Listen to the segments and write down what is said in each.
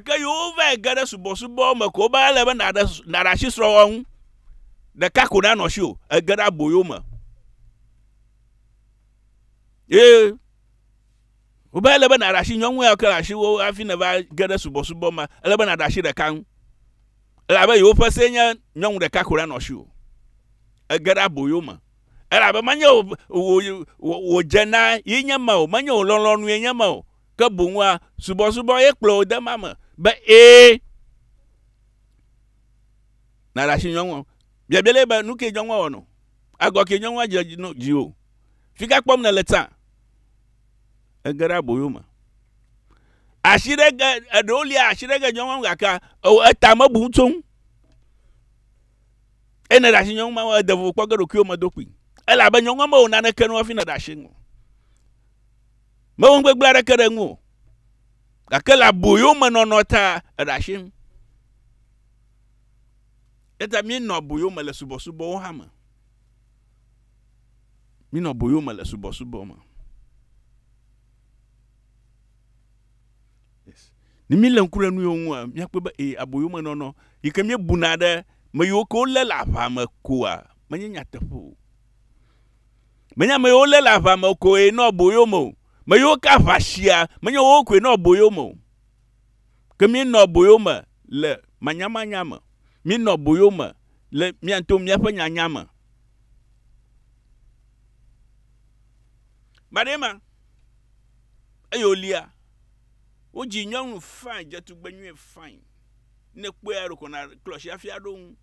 Ke yewo vae ge ɖe subɔsubɔ me ko wobe ele be nàɖe nàɖe asi srɔ̃wɔwɔ ŋu. Ɖeka ko nanɔ si o, ege ɖe aboyo me. Ye wobe ele be nàɖe asi nyɔnu ya ke le asiwò hafi nèva ge ɖe subɔsubɔ me, ele be nàɖe asi ɖeka ŋu. Elabe yewoƒe see nye nyɔnu ɖeka ko nanɔ si o. Ege ɖe aboyo me. Elabe menye wò wò wò wò dze na ye nye ma o, menye wò lɔlɔ̃nue nye ma o. ke boŋ wòa subɔsubɔ ye kplɔ wò de ma me be ee nàɖe asi nyɔnua. Biabia le be nu ke nyɔnua wɔ nɔ. Agɔ ke nyɔnua dze dzi nɔ dzi o. Fi ka kpɔm nèle tsã. Ege ɖe aboyo me. Asi ɖe ge eɖewo lia asi ɖe ge nyɔnua ŋu gake ewɔ eta mebu ŋu tso ŋu. Eye ne ɖe asi nyɔnu ma wɔ ede vovo kpɔ ge ɖokuiwo me do kpui. Elabe nyɔnua mewɔ naneke nɔ hafi nèɖe asi ŋu. Mewɔ nugbegblẽ aɖeke ɖe ŋu o, gake le aboyomenɔnɔ ta eɖe asi ŋu. Eta míenɔ aboyo me le subɔsubɔwo hã me. Míenɔ aboyo me le subɔsubɔ me. Ne míele ŋku ɖe nu yewo ŋua, míakpɔe be ee, aboyomenɔnɔ yi ke míebuna ɖe me yiwo ke wolé le aʋa me koa, menye nyateƒe o. Menye ame yiwo lé le aʋa me koe nɔ aboyo me o. Me yiwo ka aʋa shia, menye wowo koe nɔ aboyo me o. Ke míenɔ aboyo me le manyamanya me. Míenɔ aboyo me le mía ŋutɔ míaƒe nyanya me. Baɖɛ ma eye wòlia, wodzi nyɔnu fain, dze tugbe nyuie fain. Ne èkpɔe eya ɖeko nàklɔ asi afi aɖo ŋu.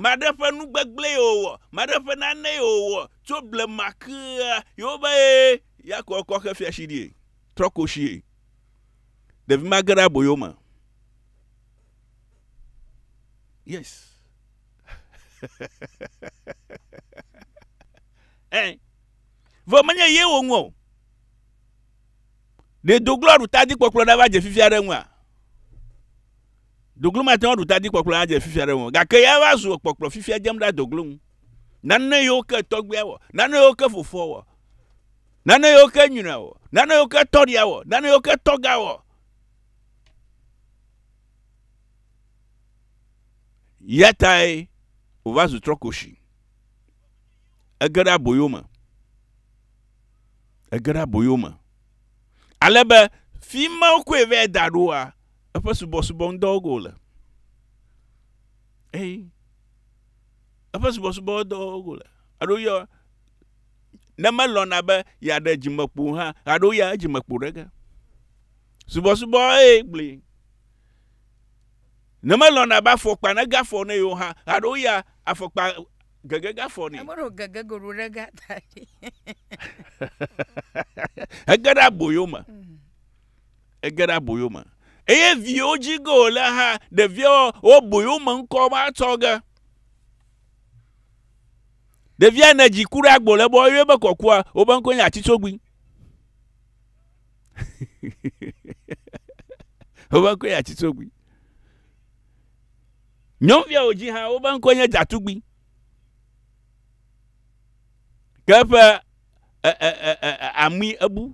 Maɖe ƒe nu gbegblẽe wòwɔ, maɖe ƒe nanee wòwɔ tso blema kea, Yehowa ye ya kɔ kɔ xe fia si ɖie, trɔ koshie. Ɖevi ma ge ɖe aboyo me. Yes. eh. Vɔ menye ye wòŋu o. Ɖe doglo aɖu tadikpɔkplɔ ɖava dze fifia ɖe ŋua? Doglo mate ŋu aɖu ta dzi kpɔkplɔ adze fifia ɖe ŋu, gake ya va zu kpɔkplɔ fifia dzem ɖa doglo ŋu. Nane yiwo ke tɔgbuia wɔ, nane yiwo ke fofoa wɔ, nane yiwo ke nyɔnɔa wɔ, nane yiwo ke tɔɖia wɔ, nane yiwo ke tɔga wɔ. Ya tae wòva zu trɔkoshi. Ege ɖe aboyo me. Ege ɖe aboyo me. Ale be fi ma wokɔe vɛ da ɖoa, eƒe subɔsubɔ ŋudɔ wɔge wòle. Eye eƒe subɔsubɔ dɔ wɔge wòle. Eɖo yɔ ne melɔ̃na be yeaɖe dzimekpo hã, aɖo ya edzimekpo ɖe ge. Subɔsubɔ eye gblɔe. Ne melɔ̃na be afɔkpa nege afɔ ne yewo hã, aɖo ya afɔkpa gege ga fɔ nɛ. Emeɖo gege goɖo ɖe ga ta ɖi. Ege ɖe aboyo me. Mm. Ege ɖe aboyo me. Eye viwo dzi ge wòle ha ɖeviawo wo boyo me ŋkɔ ma tsɔ ge. Ɖevia ne dzi ku ɖe agbo le bɔ eye be kɔkua wobe ŋkɔ nye atitsogbi. Wobe ŋkɔ nye atitsogbi. Nyɔnuviawo dzi hã wobe ŋkɔe nye Dzatugbui. Ke eƒe e, e, e, e, e, amui ebu.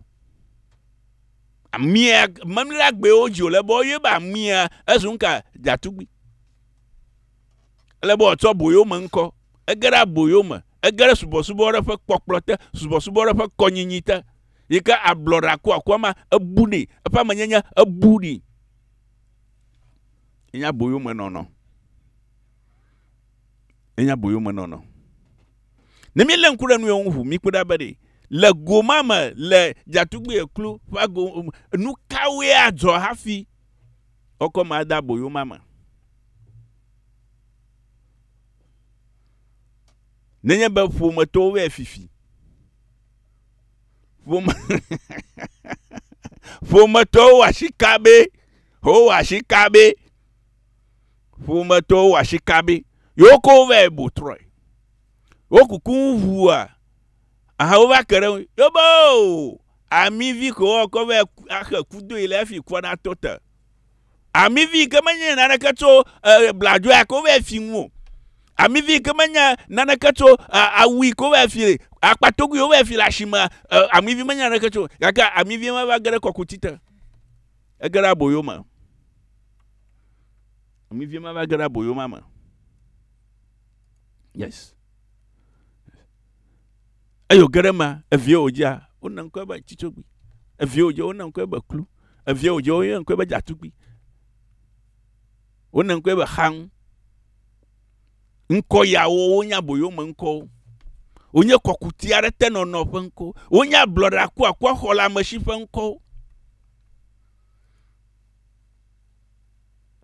Amia memle agbewo dzi wòle be woyɔe be amia ezu ŋka Dzatugbui. Ele be wòatsɔ boyo me ŋkɔ. Ege ɖe aboyo me. Ege ɖe subɔsubɔ ɖe ƒe kpɔkplɔ te. Subɔsubɔ ɖe ƒe kɔnyinyi te. Yi ke ablɔɖe akuakua ma ebu nɛ. Eƒe amenyenye ebu nɛ. Enye aboyomenɔnɔ. Enye aboyomenɔnɔ. Ne mílé ŋku ɖe nu yewo ŋu ʋu, míkpɔe ɖa be ɖe le go ma me, le Djatugbui Ekplu ƒe ago, nu kawoe adzɔ hafi woakɔ ame ade aboyo ma me. Nenye be ƒometɔwo vɛ fifi. ƒome ƒometɔwo wɔ asi kabɛ wowɔ asi kabɛ ƒometɔwo wɔ asi kabɛ yewo kɔ wo vae bu trɔe wokuku ŋuʋua aha wova ke ɖe ŋu yobo amivi ko woakɔ vae ku- axe kudoe le efi kɔ ɖa to te Amivi yi ke menye naneke tso e, bladzo ya ko vɛ fi ŋu o. Amivi yi ke menye naneke tso e, awu yi ko vɛ fi akpatogui wo vɛ fi le asime. E, amivi menye naneke tso gake amivi ma va ge ɖe kɔkuti te. Ege ɖe aboyo me. Amivi ma va ge ɖe aboyo ma me. Yes. Eye wòge ɖe eme, evie wòdzea, wona ŋkɔe be Tsitsogbi. Evie wòdze, wona ŋkɔe be Klu. Evie wòdze, woyɔe ŋkɔe be Dzatugbi. Wona ŋkɔe be Xaŋ. Ŋkɔ yawo wonye aboyome ŋkɔwo. Wonye kɔkuti aɖe te nɔnɔ ƒe ŋkɔwo. Wonye ablɔɖe akuakua xɔleamesi ƒe ŋkɔwo.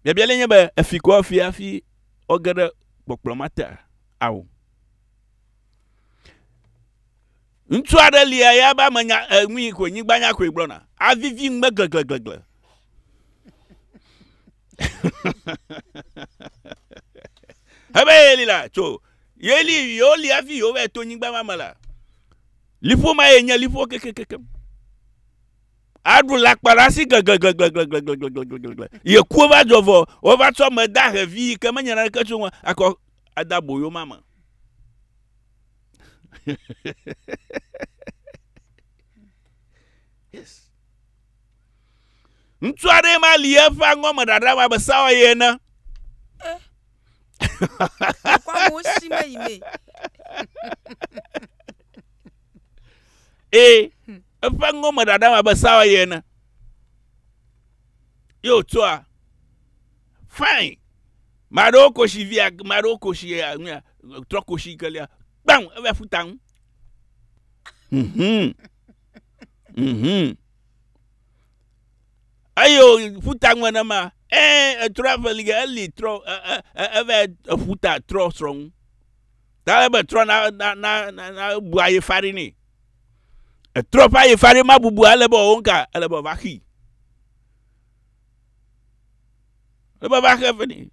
Biabia le nye be, efi kɔ efi hafi woge ɖe kpɔkplɔ mate ao. Ŋutsu aɖe lia ya be ame nya enui koe nyigba nya koe gblɔna. Avivi ŋugbe glegleglegle. Ebe yeli la tso yeli yewo li avi yewo va to nyigba ma me la. Liƒo ma ye nye liƒo kekekekem. aɖu lakpa ɖe asi gleglegle. Yeku va dzɔ vɔ, wova tsɔ ame da hevi yi ke menya naneke tso ŋu akɔ ade aboyo ma me. yes. Ŋutsu aɖe ma li eƒe aŋɔ me ɖaɖa ma be sawa ye ene. Kɔ amewo si me yi mee. ee eƒe ŋgɔ me ɖaɖa abe sawa ye ene ye wòtsɔa fain maɖewo kosi via maɖewo kosi nuya trɔ kosi kelia gbam eva futa ŋu mhm mhm eye wòfuta ŋu nenema ee etrɔ evelige eli trɔ e- e- e- eva efuta trɔ srɔ̃ ŋu Tale be etrɔ na na na na na ebu aye fari ni. Etrɔ ƒe aye fari ma bubu ale be ɔwo nka ele be ɔva xii. Ele be ɔva xe fe ni.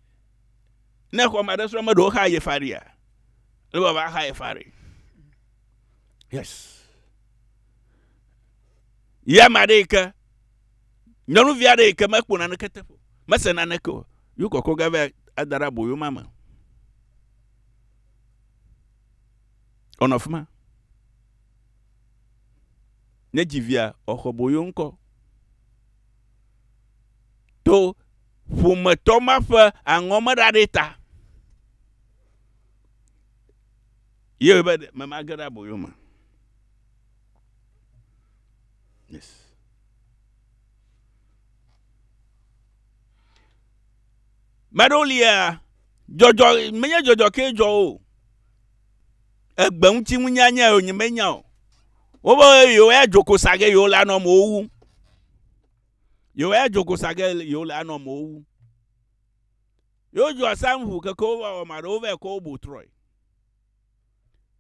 Ne xɔ ma ɖe srɔ̃ me ɖewo xa aye faria. Ele be ɔva xa aye fari. Yes. Ya ma ɖe ke. Nyɔnuvi aɖe yi ke mekpɔ naneke teƒe. Mese naneke o. Yukɔkɔ gave adara boyo ma me. Wònɔ afi ma. Ne dzi via, wòaxɔ boyo ŋkɔ. To ƒometɔ ma ƒe aŋɔ me ɖa ɖe ta. Ye be me ma ge ɖe aboyo me. Yes. Ame aɖewo lia, dzɔdzɔ menye dzɔdzɔ kee dzɔ wo o. Egbe ŋuti ŋunyanya yewo nye menya o. Wobe yewo ya dzo kosa ge yewo le anɔ amewo wu. Yewo ya dzo kosa ge yewo le anɔ amewo wu. Yewo dzo asam ŋu keke wo va wɔ ame aɖewo va yi kɔ wo bo trɔe.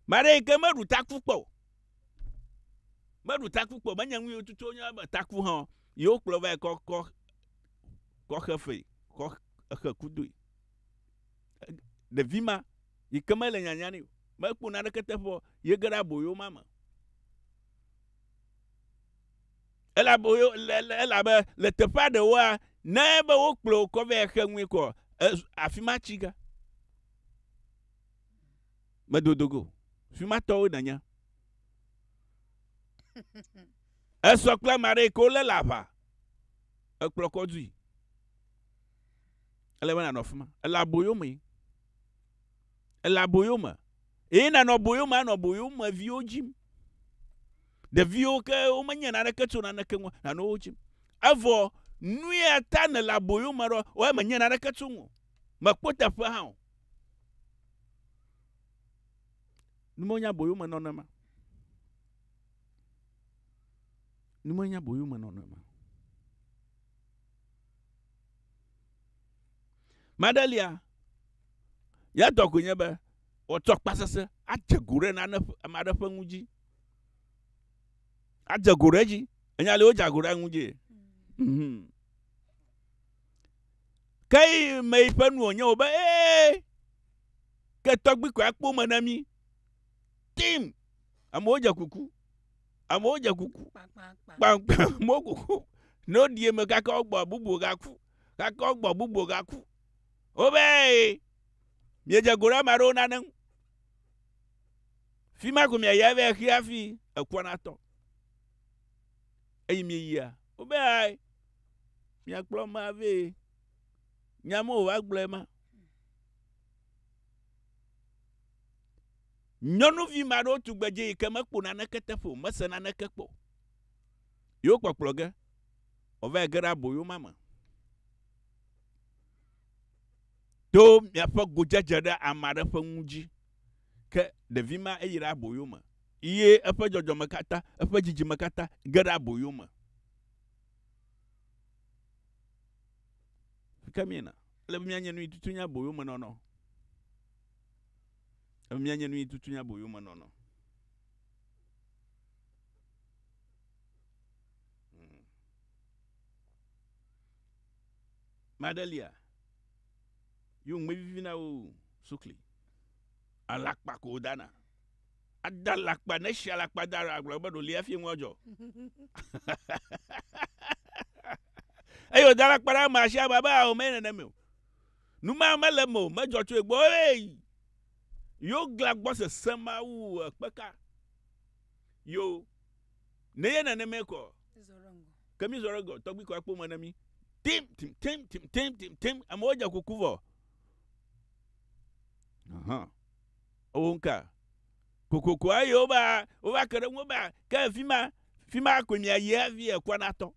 Ame aɖe yi ke meɖu taku kpɔ o. Meɖu taku kpɔ o. Menye nu yewo tutu wonye be taku hã o. Yewo kplɔ va yi kɔ kɔ kɔ xe fee kɔ exe kudui. Ɖevi ma yi ke mele nyanya nɛ o, mekpɔ naneke teƒe o, yege ɖe aboyo ma me. Ele aboyo le le elabe le teƒea ɖewoa ne be wokplɔ wò kɔ vɛ exe nui kɔ ezu afi ma tsi ge. Medodo go. Fi ma tɔwo nènya. Esɔ kple ame aɖe yi ke wolé le aʋa. ekplɔ kɔ dui. Ele be nànɔ afi ma. Ele aboyo mee. Ele aboyo me. Eye nànɔ aboyo me anɔ aboyo me viwo dzim. Ɖeviwo ke womenye naneke tso naneke ŋu nanɔ wo dzim. Evɔ nu ya ta nèle aboyo me ɖo wɔe menye naneke tso ŋu. Mekpɔ teƒe hã o. Nu menye aboyo me nɔnɔ ma. Nu menye aboyomenɔnɔ ma. Maɖelia, ya dɔ koe nye be wòatsɔ akpa sese adze go ɖe nane ame aɖe ƒe ŋu dzi. Adze go ɖe edzi. Enya li wodze go ɖe ŋu dzi. Mhm. Ke yi me yi ƒe nu wònye wò be ee ke tɔgbi koe akpo me na mí. Tim. Amewo dze kuku. Amewo dze kuku kpankpan, amewo kuku ne woɖi eme gake wogbɔ bubu gaku gake wogbɔ bubu gaku. Wobe miedze go ɖe ame aɖewo nane ŋu. Fi ma ko miayi ave xi hafi ekua natɔ. Eyi mieyia wobe miakplɔ ame ave nya me wòva gblɔe ma. Nyɔnuvi ma ɖo tugbedze yi ke mekpo naneke teƒe o, mese naneke kpɔ. Yewo kpɔkplɔ ge, wòva yi ge ɖe aboyo ma me. To miaƒe godzedze ɖe ame aɖe ƒe ŋu dzi. Ke ɖevi ma eyi ɖe aboyo me ye eƒe dzɔdzɔme katã, eƒe dzidzime katã ge ɖe aboyo me. Ke miena, ele be mianye nu yi tutu nye aboyomenɔnɔ. Emia nye nuyitu nye aboyomenɔnɔ. Hmm. Madelia, yo ŋmɛ vivi na wo sukli. Alakpa ko dana. Ada alakpa ne si alakpa da ra gblɔ be ɖo lia fi ŋua jɔ. Eyo da alakpa na ma si ama be awo me neneme o. Nu ma mele eme o, medzɔ tso ye gbɔ. Hey! Yo glã gbɔ sese ma wu ekpeka. Yo, ne ye neneme kɔ. Ke mi zɔ ɖe gɔ, tɔgbi kɔ akpo me ne mi. Tim, tim, tim, tim, tim, tim, tim. Amewo dze kuku vɔ. Aha. Owo nka. Kokoko ayi wo ba, wo ba ke ɖe ŋu ba, ke fi ma, fi ma koe mi ayi hafi ekɔ na tɔ.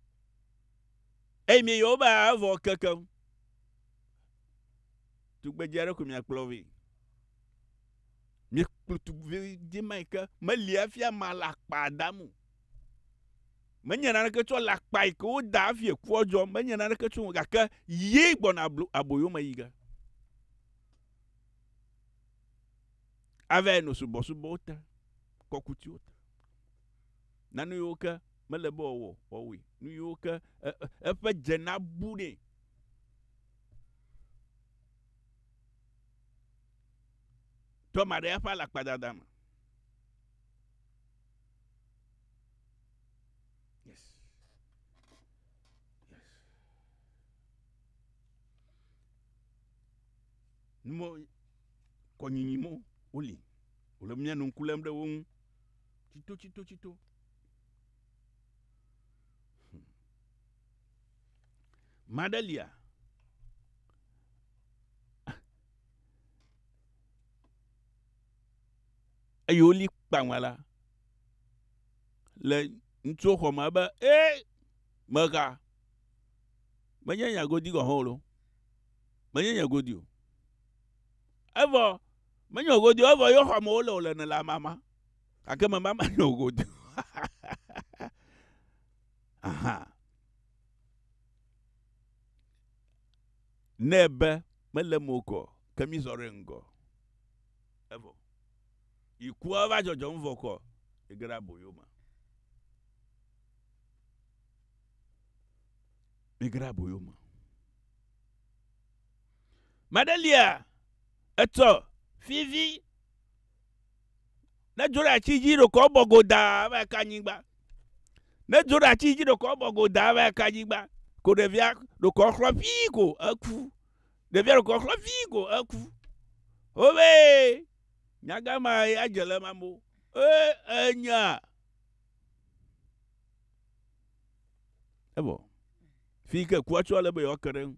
Eyi mi yo ba vɔ kekem. Tugbedze aɖe ko miakplɔ vɛ. Miekplɔ tugbedze ma yi ke meli hafi ama le akpa dam o. Menye naneke tsɔ le akpa yi ke woda hafi ekua dzɔ, menye naneke tsɔ gake ye gbɔna aboyo me yi ge. Ava yi nɔ subɔsubɔwo te, kɔkutiwo te. na nu yiwo ke mele be wòawɔ, wòawɔe, nu yiwo ke eƒe dze nabu nɛ. Toma ɖe eƒe alakpadada me. Numɔ kɔnyinyi mɔ woli. Wòle mía nu ŋku lém ɖe wo ŋu. tsitotsitotsito. Hm. Madelia. Eye woli kpaŋa la le ŋutsuwo xɔ me be ee mega menye nya godi gɔhɔ o lo menye nya godi o evɔ menye godi o evɔ yɔ xɔ me wole wole ne la mama gake meva me nɔ godoo aha ne be mele mo kɔ ke mi zɔ ɖe ŋgɔ evɔ ikua va dzɔdzɔm vɔ kɔ ege ɖe aboyo me ege ɖe aboyo me maɖelia etsɔ fivi Ne dzo ɖe ati dzi ɖeko ebɔ godaa va yi ka anyigba. Ne dzo ɖe ati dzi ɖeko ebɔ godaa va yi ka anyigba. Ko ɖevia ɖeko exlɔ ʋii ko eku. Ɖevia ɖeko exlɔ ʋii ko eku. Wobee, nyaga ma ya dze le eme amewo. Ee, enya. Evɔ. Fi yi ke kua tsoa le be yewoake ɖe eŋu.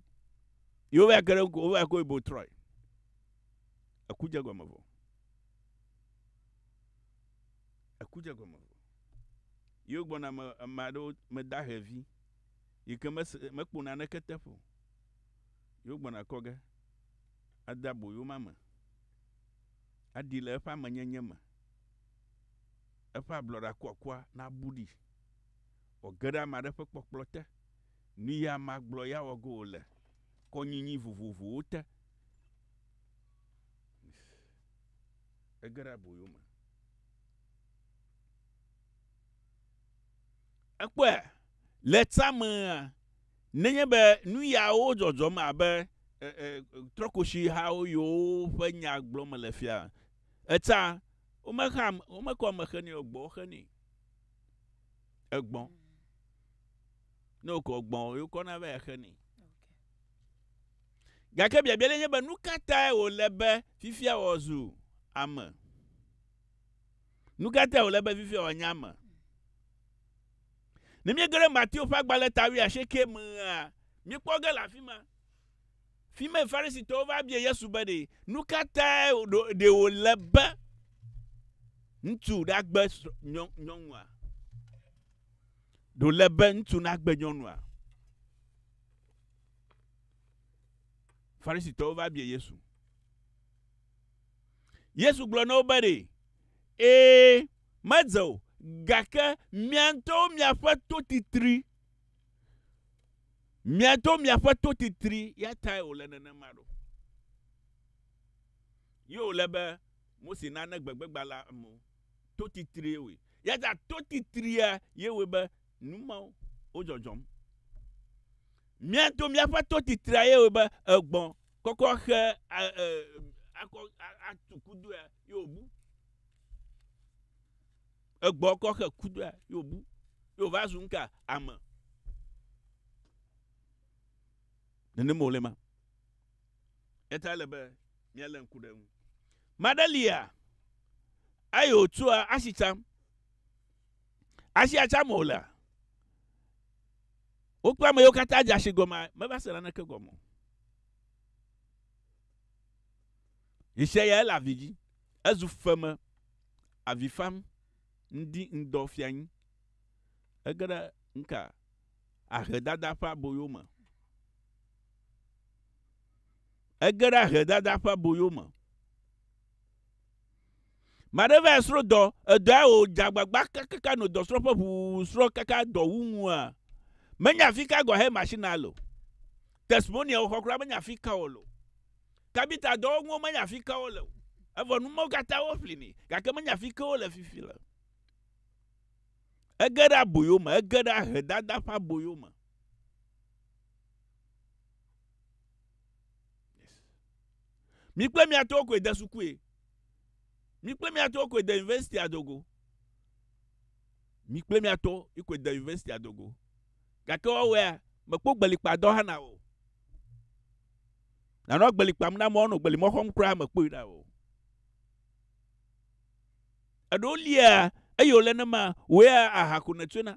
Yewova ke ɖe eŋu ko wova yi ko yi bo trɔe. Eku dze egɔme vɔ. Eku dze egɔme vɔ. Yewo gbɔna me ame aɖewo me da hevi yi ke mese mekpo naneke teƒe o. Yewo gbɔna kɔ ge ade aboyo ma me aɖi le eƒe amenyenye me. Eƒe ablɔɖa kuakua nabu ɖi wòage ɖe ame aɖe ƒe kpɔkplɔ te. Nu ye amea gblɔ ye awɔ ge wòle kɔnyinyi vovovowo te. Ege ɖe aboyo me. Ekpɔe le tamea nenye be nu yawo dzɔdzɔm abe trɔkosihawo yiwo ƒe nya gblɔm mele fia. Eta womexea womekɔ ame xe nɛ o, gbɔ xe nɛ. Egbɔ. Ne wokɔ gbɔ wokɔna va xe nɛ. Gake biabia ɖe nye be nu ka tae wòle be fifia wòazu ame? Nu ka tae wòle be fifia wòanye ame? Ne míege ɖe Mateo ƒe agbalẽ ta wuiasieke mea, míekpɔ ge le afi ma. Fi mae Farisitɔwo va bia Yesu be ɖe nu ka tae ɖe wòle be ŋutsu nagbe nyɔnua? Ɖe wòle be ŋutsu nagbe nyɔnua? Farisitɔwo va bia Yesu. Yesu gblɔ na wo be ɖe, ee, medze o, gake mia ŋutɔwo miaƒe to titri, mia ŋutɔwo miaƒe to titri ya tae wòle nenema ɖo. Ye wòle be Mose nane gbegbegbalẽ amewo, to titrie wɔe. Ya ta to titria ye wɔe be Nu mawo wo dzɔdzɔm. Mía to míaƒe to titrea ye wo be egbɔ kɔkɔ xe a e akɔ atu kudo ya ye wo bu. Egbɔ kɔ xe kudo ya ye wo bu. Ye wo va zu nka ame. Nene mo le ma. Eta le be mía le nku ɖe nu. Madelia ayo tsua asitsam. Asia tsam wòlea? Wokpe ame yiwo katã dze asi gɔmea, meva se naneke gɔme o. Ŋsẽ ya ele avi dzi. Ezu feme, avi fam, ŋdi ŋdɔ fia anyi. Ege ɖe ŋka ahedada ƒe aboyo me. Ege ɖe ahedada ƒe aboyo me. Maɖe vae srɔ̃ dɔ, edɔa wò dze agbagba kakaka nɔ dɔsrɔ̃ƒe ʋuu srɔ̃ kaka dɔ wu ŋua? Menya fi ka gɔhɛ machine a lo. Testimonial woxɔ kura menya fi ka wo lo. Kabita dɔwɔnuwo menya fi ka wo le o. Evɔ nu mawo katã wo ƒli ni gake menya fi ke wo le fifi le. Ege ɖe aboyo me, ege ɖe ahe dada ƒe aboyo me. Yes. Mi kple mia tɔwo koe de sukue. Mi kple mia tɔwo koe de university adogo. Mi kple mia tɔwo koe de university adogo. Gake woawɔea mekpɔ gbelikpa dɔ hã na o. Nanɔ gbelikpam na mɔ nɔ gbelimɔ xɔm kura mekpɔe na o. Eɖewo lia eye wòle ne ma wòea aha ko nètsoe na.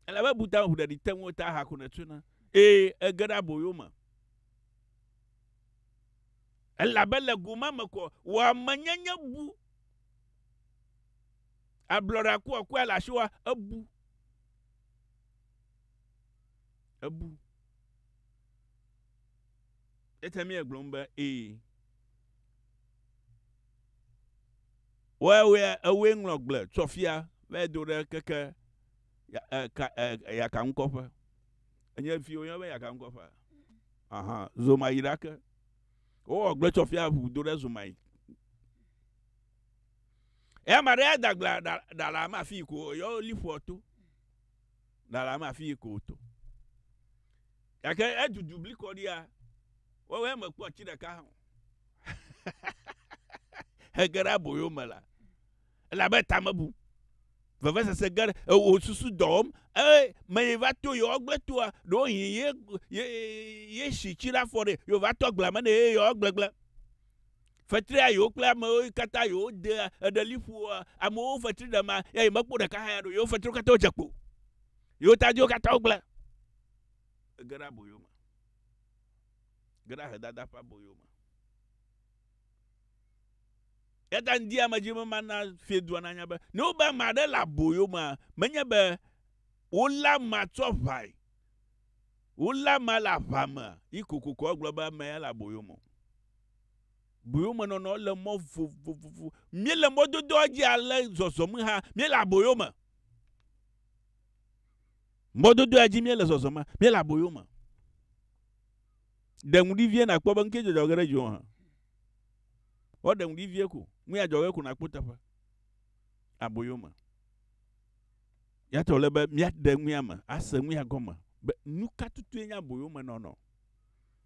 Elabe buta ŋuɖeɖi te ŋuwò ta hã ko nètsona, eye ège ɖe aboyo me. Elabe le go ma me ko wò amenyenye bu. Ablɔɖe akuakua le asiwòa, ebu. Ebu. Eya ta míegblɔm be, Ee. Wɔɛwɔɛ ewoe ŋlɔ gble tsɔ fia vae do ɖe keke yakaŋkɔƒe. Enye fi woyɔna be yakaŋkɔƒea? Aha, zoma yi ɖake. Wowɔ gble tsɔ fia ŋu do ɖe zoma yi. Eya ma ɖe ya da gblea ɖa ɖa le ame afii ko yɔ liƒoa to. lalam afi yi ko wòto. Gake edudu blikɔɖia, woawoe mekpɔ atsi ɖeka hã o. Hege ɖe aboyo me la, elabe ta me bu. Vevesese ge ɖe ewò susu dɔ wɔm. Eye meyi va to yewoa gble toa, ɖewo yi ye, ye, ye si tsi ɖe afɔ ɖe, ye wòva to agblea me nɛ eye yewoa gble gble. Fetria yewo kple ame wo katã yewo de eɖe liƒoa ame wo fetri ɖe ma ya yi mekpo ɖeka hã ya ɖo yewo fetri wo katã wo dze kpo yewo tadi wo katã wo gble ege ɖe aboyo me ge ɖe ahe dada ƒe aboyo me ya ta ŋdi ame dzi me ma na fie dua na nya be ne wo be ame aɖe le aboyo me menye be wo la ma tsɔ ʋai wo la ma le aʋa me yi kokoko agblɔ be ame ya le aboyo me Boyomenɔnɔ le mɔ vovovo. Míele mɔdodoa dzi ale zɔzɔm hã. Míele aboyo me. Mɔdodoa dzi míele zɔzɔm hã. Míele aboyo me. Ɖe ŋu ɖi vie nàkpɔ be ŋkee dzɔdzɔ ge ɖe dziwò hã. Woɖe ŋu ɖi vie ko. Ŋu ya dzɔ ge ko nàkpɔ teƒe. Aboyo me. Yatɔ wòle be míaɖe ŋu ya me, ase ŋu ya gɔme be nu ka tutue nye aboyomenɔnɔ.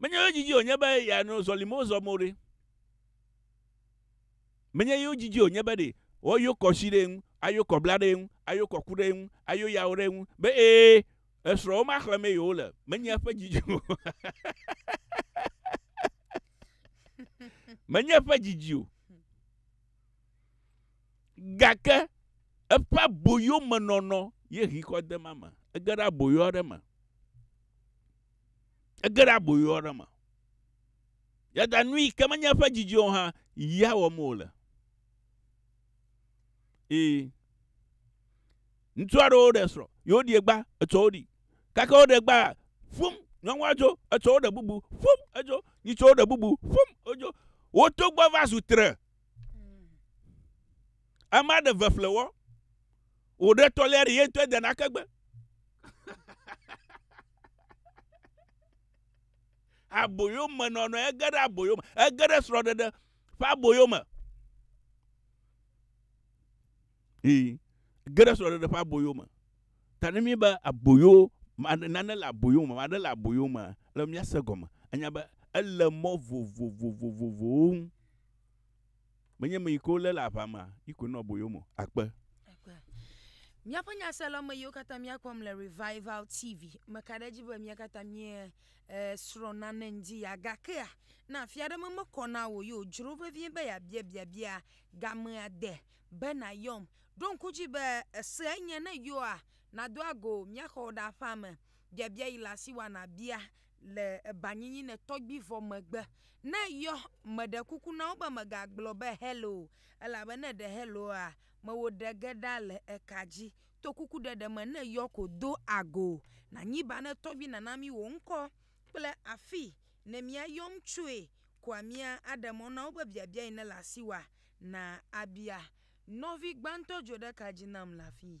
Menye yewo didi wònye be yeanɔ zɔlimo zɔm o ɖe? Menye yewo didi wònye be ɖe woayɔ kɔ si ɖe eŋu, ayɔ kɔ bla ɖe eŋu, ayɔ kɔ ku ɖe eŋu, ayɔ yawo ɖe eŋu be ee, esrɔ̃wo ma xlẽmee yewole. Menye eƒe didi o. Menye eƒe didi o. Gake eƒe aboyomenɔnɔ ye hikɔ de ma me. Ege ɖe aboyo aɖe me. Ege ɖe aboyo aɖe me. Yada nu yi ke menye eƒe didi o hã, ya wɔm wòle. Ee. Ŋutsu aɖewo ɖe srɔ̃, ye woɖie gba, etsɔ wo ɖi. Gake woɖe gba, fum, nyɔnua dzo, etsɔ woɖe bubu, fum, edzo, yi tsɔ woɖe bubu, fum, edzo. Woto gbɔ va zu tre. Ame aɖe ve ƒle wɔ. Wòɖe tɔlia ɖe ye ŋutɔ de nake gbe. aboyo me nɔnɔ ege ɖe aboyo me ege ɖe srɔ̃ɖeɖe ƒe aboyo me. Ee, ege ɖe srɔ̃ɖeɖe ƒe aboyo me. Ta ne míbe aboyo nane le aboyo me, nane le aboyo me le míase gɔme. Anya be ele mɔ vovovovovowo ŋu. Menye ame yi ke wolé le aʋa mea yi koe nɔ aboyo me o. Akpe. Akpe. Míaƒe nyaselɔ̃ame yiwo katã míakpɔm le Revival TV meka ɖe edzi be mía katã míesrɔ̃ nane ŋdi ya. Gakea, ne afi aɖe me mekɔ na wò o ye wòdzro vevie be yeabia biabia gamea de be nàyɔm. Ɖo ŋku edzi be esee nye ne yɔa, nàdo ago mía xɔwo ɖe aƒea me, biabia yi le asiwò a nàbia le ebanyinyiné tɔgbivɔ megbe. Ne yɔ, meɖe kuku na wo be megagblɔ be hello o, elabe ne eɖe hello a, mewò ɖe ge ɖa le eka dzi. To kuku ɖeɖe me ne yɔ ko do ago nanyi ba ne tɔgbi nana mi wò ŋkɔ kple afi ne mia yɔm tsoe koa mia aɖe mɔ na wo be biabia yi ne le asi wa na abia. Nɔvi gbãtɔ dzo ɖe ka dzi nam le afii.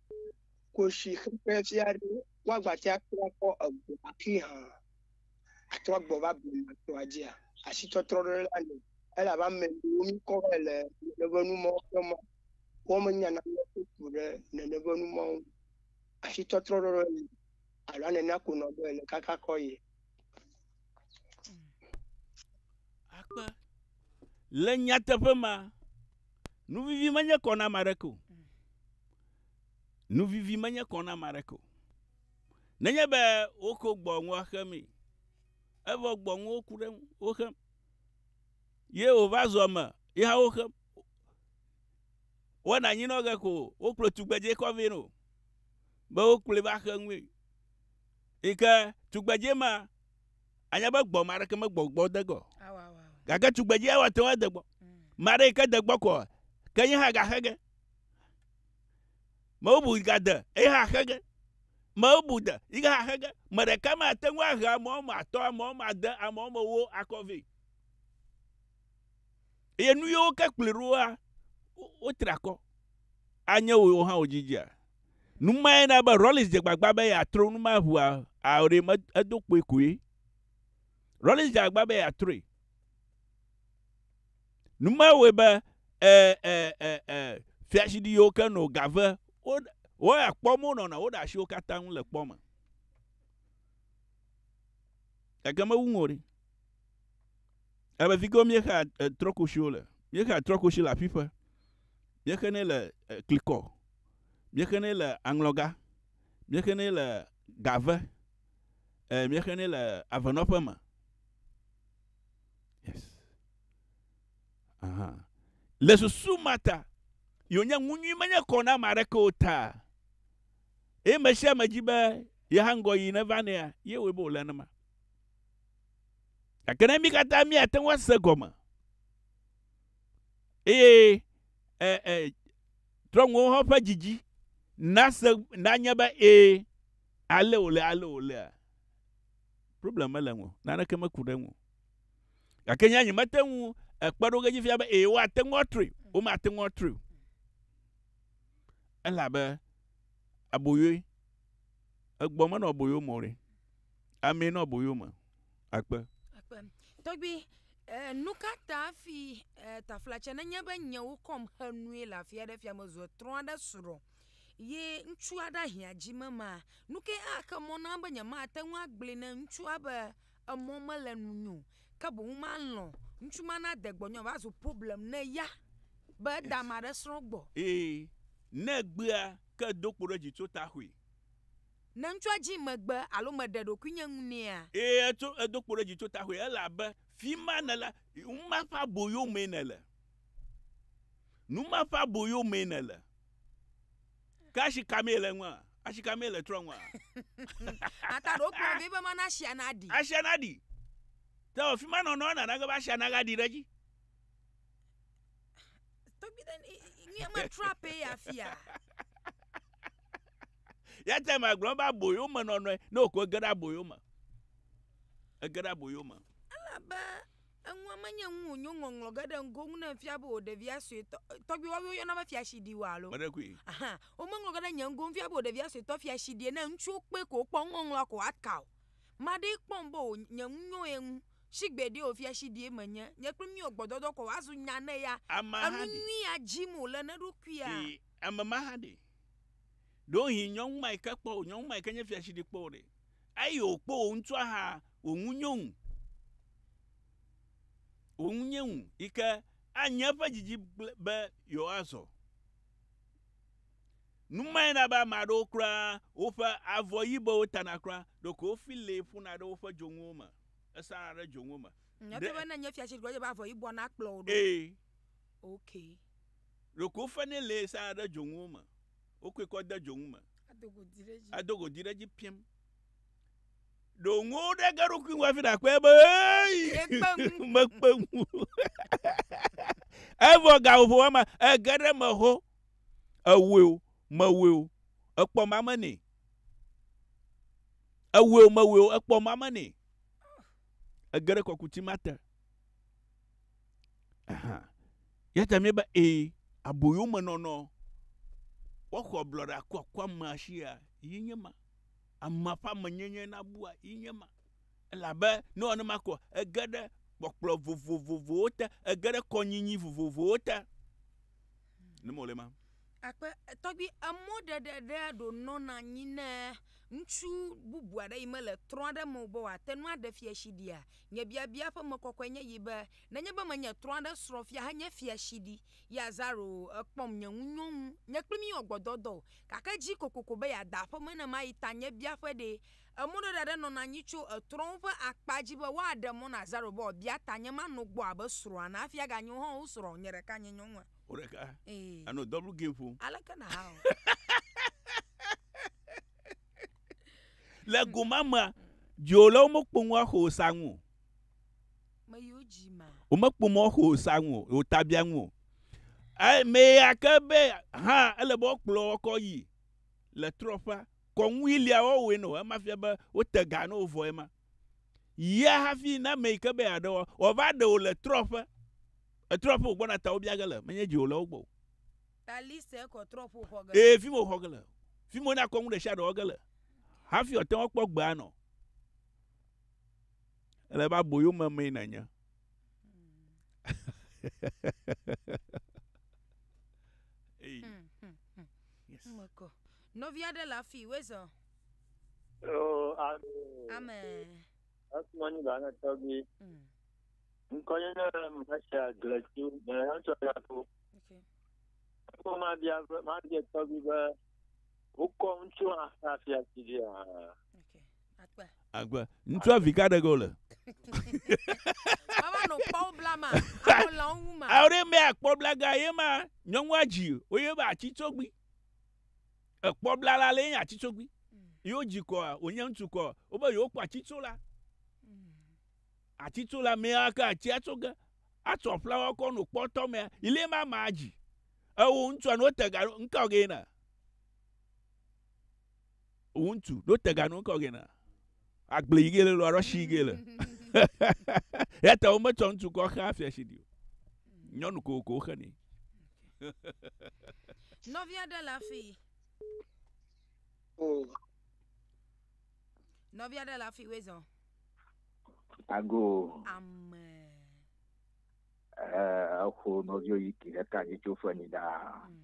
Koshi xexe fia ɖe woagbatea atrɔ akpɔ egbɔ hafi hã atrɔ agbɔ va blema tɔa dzia? Asitɔtrɔ ɖe la li elabe ame ɖewo mi kɔ vɛ le nene ƒe numɔwo ƒe mɔ wo me nya nane ƒe ku ɖe nene ƒe numɔwo ŋu. Asitɔtrɔ ɖe li alo anenea ko nɔ be ele kaka kɔ ye. akpe le nyateƒe ma nuvivi menye kɔ na ame aɖeke o nuvivi menye kɔ na ame aɖeke o nenye be woko gbɔnua xe mee evɔ gbɔnuwo ku ɖe ŋu woxe ye wòva zɔ me ye hã woxe wɔna nyinɔ ge ko wokplɔ tugbedzɛ kɔ vɛ nɛ o be wokplɔe va xe nue Yi ke tugbedzɛ ma, anya be gbɔ ma ɖeke megbɔ gbɔ de gbɔ. Gake tugbedzɛ wa te ŋu ade gbɔ. Ma ɖe yi ke de gbɔ kɔ, ke yi hã gaxe ge. Me bubu gade eye hã xe ge. Me bubu de yi ke hã xe ge. Me ɖeka ma te ŋu ahe ame wɔme atɔ̃, ame wɔme ade, ame wɔme ewo akɔ vɛ. Eye nu yiwo ke kplɔe ɖoa, wotra akɔ. Anye wò hã wò dzidzia? Nu mae na be Rawlings dze gbagba be yeatrɔ nu ma ŋu ao ɖe? Me, edo kpoe koe. Rawlings dze agbagba be yeatrɔe. Nu mae wɔe be e, e, e, e, fiaɖuɖi yiwo ke nɔ Gave, wo, woya kpɔ me wonɔna, woɖe asi wo katã ŋu le kpɔ me. Gake mewu ŋu o ɖe. Ebe fi kewo míexea e, trɔkoshi wo le. Míexea trɔkoshi le aƒiƒe. Míexenɛ le e, klikɔ. Míexenɛ le aŋlɔga, míexenɛ le gave, ɛɛ, míexenɛ le avenɔƒe me. Yes. Aha. Le susu ma ta, yi wònye ŋu nyui menye kɔ na ame aɖeke o ta, eye me sia me di be yeha ŋgɔyiyi neva nɛa, ye wɔe be wòle nenema. Gake ne mí katã míate ŋu ase egɔme eye ɛɛ, ɛɛ, Trɔ ŋuwòhɔ ƒe dzidzi nase nanye be ee, ale wòle, ale wòlea. Problem mele ŋu o, naneke meku ɖe eŋu o. Gake nye nyemete ŋu ekpe ɖo ge dzi fia be ee, woate ŋu atrɔe, womate ŋu atrɔe o. Ele abe aboyoe, egbɔ menɔ aboyo me o ɖe, amee nɔ aboyo me. akpe. Akpe. Tɔgbi, eh, nuka ta fi eh, taflatsɛ nenye be nyewo kɔm xe nui le afia ɖe fia me zɔ trɔa ɖe srɔ ye ŋutsua ɖe ahia dzi me ma, nuke axe mɔ na be nyemate ŋu agblɔe ne ŋutsua be emɔ mele nunyo, ke boŋ malɔ ŋutsu ma na de gbɔnyɔ va zu problem ne ya be eda ma ɖe srɔ gbɔ. Ee, ne gbea ke do kpo ɖe dzi tso taxui. Ne ŋutsua dzii megbe alo meɖe ɖokuinye ŋu nɛa? Eye etso, edo kpo ɖe dzi tso taxue, elabe fima nèle, nu ma ƒe aboyo mee nèle. Nu ma ƒe aboyo mee nèle. Ke asi ka mee le eŋua? Asi ka mee le trɔ̃ ŋua? Ata ɖo kplɔ vɛ be mana asia naɖi. Asia naɖi. Tawɔ fima nɔnɔ nana ge be asia naga ɖi ɖe edzi. tɔgbi ɖe ni- i- i- nye metra pee afia ya te ma gblɔ be aboyo me nɔnɔe ne wòko ege ɖe aboyo me ege ɖe aboyo me elabe enua menye ŋu wònyo ŋɔŋlɔ ge ɖe ŋgo ŋu ne efia be wò ɖevia suetɔ e, tɔgbi woawo yɔna be fiaɖi wa alo me ɖe kui Aha, womeŋlɔ ge ɖe nye ŋgo ŋfia be wò ɖevia suetɔ fiaɖie ne ŋutsuwo kpɔe ko wokpɔ nuŋɔŋlɔa ko woaka o maɖee kpɔm be wò- nye ŋu nyo ye ŋu Shigbe ɖee o fiashidie menye, nye kple mí o gbɔdɔdɔ kɔ woazu nya ne ya. Ameha ɖe. Enu nyuia dim o le n'eɖokuia. Yi ame ma ha ɖe. Ɖewohĩ nyɔnu ma yi ke kpɔ o nyɔnu ma yi ke nye fiashidi kpɔ o ɖe. Eyi o kpɔ o ŋutsua ha o ŋu nyo ŋu. O ŋu nye ŋu yi ke a nye eƒe didi gble be yewoa zɔ. Numae na be ame aɖewo kura woƒe avɔ yibewo tana kura ɖeko wofi lee ƒuna ɖe woƒe dzonuwo me. Esana ɖe dzoŋuwo me. Nyateƒe be ne nye fia tsi gbɔdze be avɔ yibɔ na kplɔ wò ɖo. Ee. Ok. Ɖeko wofe nɛ le esana ɖe dzoŋuwo me. Wokɔe kɔ de dzoŋu me. Ado godi ɖe edzi. Ado godi ɖe edzi piam. Ɖo ŋu ɖe ge ɖokui ŋu hafi ɖakpɔe be eyi. Ekpe ŋu. Mekpe ŋu. Evɔ ga ƒoƒo wama ege ɖe me ho. Ewoe o, mewoe o. Ekpɔ mame nɛ. Ewueo mewueo ekpɔ ma me nɛ. Ege ɖe kɔkuti ma te. Aha. Yata mi be e aboyo me nɔnɔ. Woxɔ blɔɖa kɔ kɔ ma shia yi nye ma. Ama fa me nye nye na bua yi nye ma. Ela be no ane ma kɔ ege ɖe kpɔkplɔ vovovovowo te ege ɖe kɔnyinyi vovovowo te. Ne mole ma. Akpe, tɔgbi emɔ ɖe ɖe ɖe ɖo nɔ na nyi ne ŋtsu bubu aɖe yi me le trɔ aɖe me be wa te nu aɖe fia shi ɖia? Nye biabia ƒe me kɔkɔe nye yi be, ne nye be me nye trɔ aɖe srɔ fia he nye fia shi ɖi, yi azaro ekpɔm nye ŋu nyɔ ŋu, nye kpli mi wɔ gbɔdɔdɔ o. Gake dzi kokoko be ya da aƒeme ne ma yi ta nye biaƒe ɖee Emɔɖeɖe aɖe nɔna anyi tso etrɔ̃wo ƒe akpa dzi be woaɖe mɔ na Zerobabel bia tanye mano gbɔ abe srɔ̃a na hafi aganyo o. Hɔ̃, wosrɔ̃ o, nye ɖeka nye nyɔnua. Wò ɖeka. Ee. Ènɔ double game ƒom. Aleke nàha o? Le go ma mea, dziwò le womekpo ŋua xo sa ŋu o. Meyiwo dzi ma. Womekpo mɔ xo sa ŋu o, wò tabia ŋu o. Eye meya ke be hã ele be woakplɔ wɔ kɔ yi le trɔƒea kɔŋui lia wɔwɔe no ema fia be wote ga no vɔ ema yia hafi na ame yi ke be aɖe wɔ wɔva ɖe wò le trɔƒe etrɔƒe wò gbɔna ta wo bia ge le menye dzi wò le wo gbɔ o tali se kɔ trɔƒe wò xɔ ge ee fi mo xɔ ge le fi mo na kɔŋu ɖe sia ɖe wɔ ge le hafi ɔte wɔ kpɔ gbea nɔ ele ba boyo me me nanye hey. Hmm, hmm, hmm. Yes. Oh Nɔvi aɖe le afi wezɔ. Oh, amen. Amen. Asuma ni ba na tɔgbi. Nkɔnye ne mɛsɛ aglɛti mɛ etsɔ ya ko. Ekɔ ma bia ma bia tɔgbi be wokɔ ŋutsu afia ti dia. Agbe. Ŋutsua vi ka ɖe ge wole? Baba no kpɔwo bla ma. Awo la wo ŋu ma. Awo ɖe mɛ akpɔ bla ga ye ma nyɔnua dzi wo ye ba atsi tsogbi. Ekpɔ bla la le nya atsi tsogbi. Yo dzi kɔ wonye ŋutsu kɔ wo be yo kpɔ atsi tso la. Atsi tso la mɛ ake atsi atso ge. Atsɔ flawa kɔ no kpɔ tɔ mɛ. Ile ma ma dzi. Ewo ŋutsua no tega ŋka ge na. ŋutsu ɖo tega nu kɔ gena agble yi gele lo arɔshi yi gele ya ta wo me tsɔ ŋutsu kɔ xa afia shi di o nyɔnu ko ko xe ni nɔvi aɖe le afi nɔvi aɖe le afi wezɔ ago ame eh, exo nɔvio yi ki ɖeka dzi tso fenyi ɖaa mm.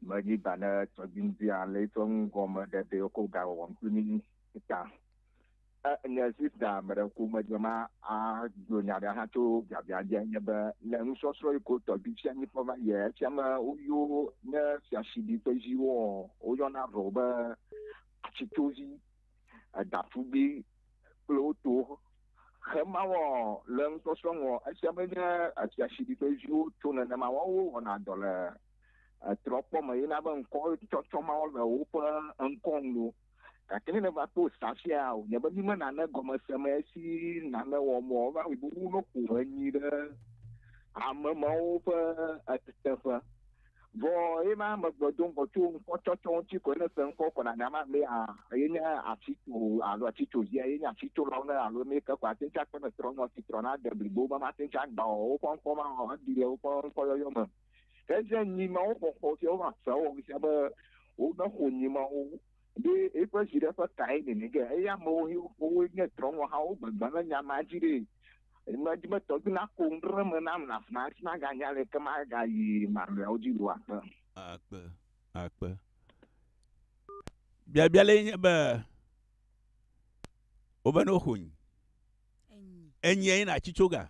Medzi ba ne tɔdziŋudzia le eƒe nugɔme ɖeɖe wokɔ ga wɔwɔm to ni ta. Enye sista meɖe ko medze ma agblɔ nya ɖe hã tso biabia dzi enye be le nusɔsrɔ̃ yi ko tɔgbi fia ni fɔ va yɛ fia me woyo ne fia sibi ƒe ziwo woyɔna vɔ be atsitovi edafugbi kple woto xe ma wɔ le nusɔsrɔ̃ ŋɔ efia be nye efia sibi ƒe ziwo to nenema wɔwo wɔna dɔ le etrɔkpɔ me yina be ŋkɔ tsɔtsɔ mawo le woƒe ŋkɔ nu o. Gake ne nèva kpɔ Safia o, nye be mi me nane gɔme se me esi nane wɔ mɔ va yi bubu no ƒo enyi ɖe ame mawo ƒe eteƒe. Vɔ ye ma me gbe do ŋgɔ tso ŋkɔ tsɔtsɔ ŋuti koe ne se ŋkɔ kɔ na nya ma be a ye nye afi tso alo atsi tso via ye nye afi tso lawo ne alo ne ke ko ate ŋuti akpe ne trɔnyɔ si trɔna de blibo be mate ŋuti agba o woƒe ŋkɔ ma o, eɖi le woƒe ŋkɔ yɔyɔ me. Esia nyi Mawu xɔxɔ siwo hã sea wɔ ŋusẽ be womeƒo nyi Mawu ɖe eƒe viɖe ƒe tae nene ge. Eya amewo wowoe nye trɔ̃ŋɔ hawo gbegbe le nya ma dzi ɖe. Nya dzi be tɔgbi nako nu ɖe eme nam le afima hafi maganya aleke magayi mamleawo dzi o akpe. Akpe, akpe. Biabia lae nye be, Wovena woxo nyi. Enyi eye natsi tso ga?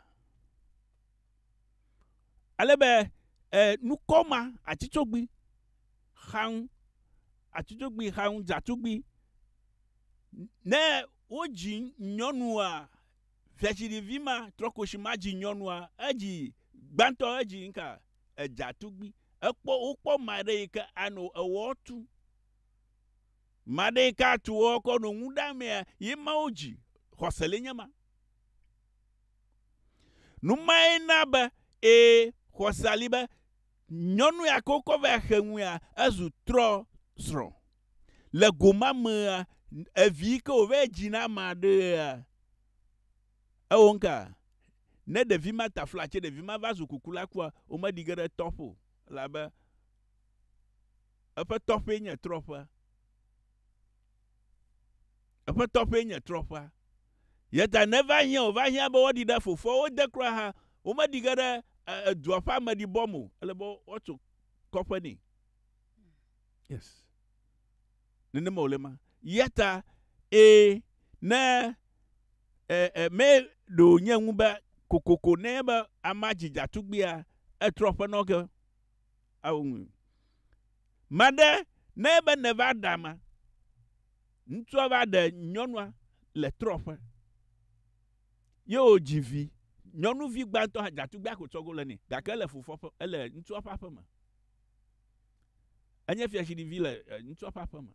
Ale be e, nukɔ ma atsitsogbi xaŋ, atsitsogbi xaŋ dzatugbi. Ne wodzi nyɔnua, viatsiɖivi ma trɔkoshi ma dzi nyɔnua, edzi gbãtɔ edzi ŋka edzatugbi. Ekpɔ wokpɔ ma ɖe yi ke ano ewɔ tu. Ma ɖe yi ke atu wɔ kɔ no ŋu ɖamea, ye ma wodzi. Xɔse le nye ma. Nu mae na be, ee, xɔsea li be nyɔnu ya ke wokɔ va xe nu ya, ezu trɔsrɔ̃. Le go ma mea, evi yi ke wòva yi dzi na ame aɖea, ewɔ nuka? Ne ɖevi ma ta fla tse ɖevi ma va zu kuku la kua, womeɖi ge ɖe tɔƒe o elabe eƒe tɔƒee nye trɔƒea. Eƒe tɔƒee nye trɔƒea. Eya ta ne eva hiã wòva hiã be woaɖi ɖe fofoawo de kura hã, womeɖi ge ɖe edua ƒe ameɖibɔ me o. Ele be woatso kɔƒe nɛ. Yes. Nenema wòle ma. Eya ta, ee, ne e, e, me ɖo nye ŋu be kokoko ne be amea dzi dza tugbia, etrɔ ƒe nɔ ge. Ao ŋu. Maɖe ne ebe nèva ɖa ma. Ŋutsua va ɖe nyɔnua le trɔƒe. Ye wòdzi vi. Nyɔnuvi gbãtɔ hã, datugbea ko tsɔ go le nɛ. Gake ele fofoa ƒe, ele ŋutsua ƒe aƒe me. Enye fiatsiɖivi le ŋutsua ƒe aƒe me.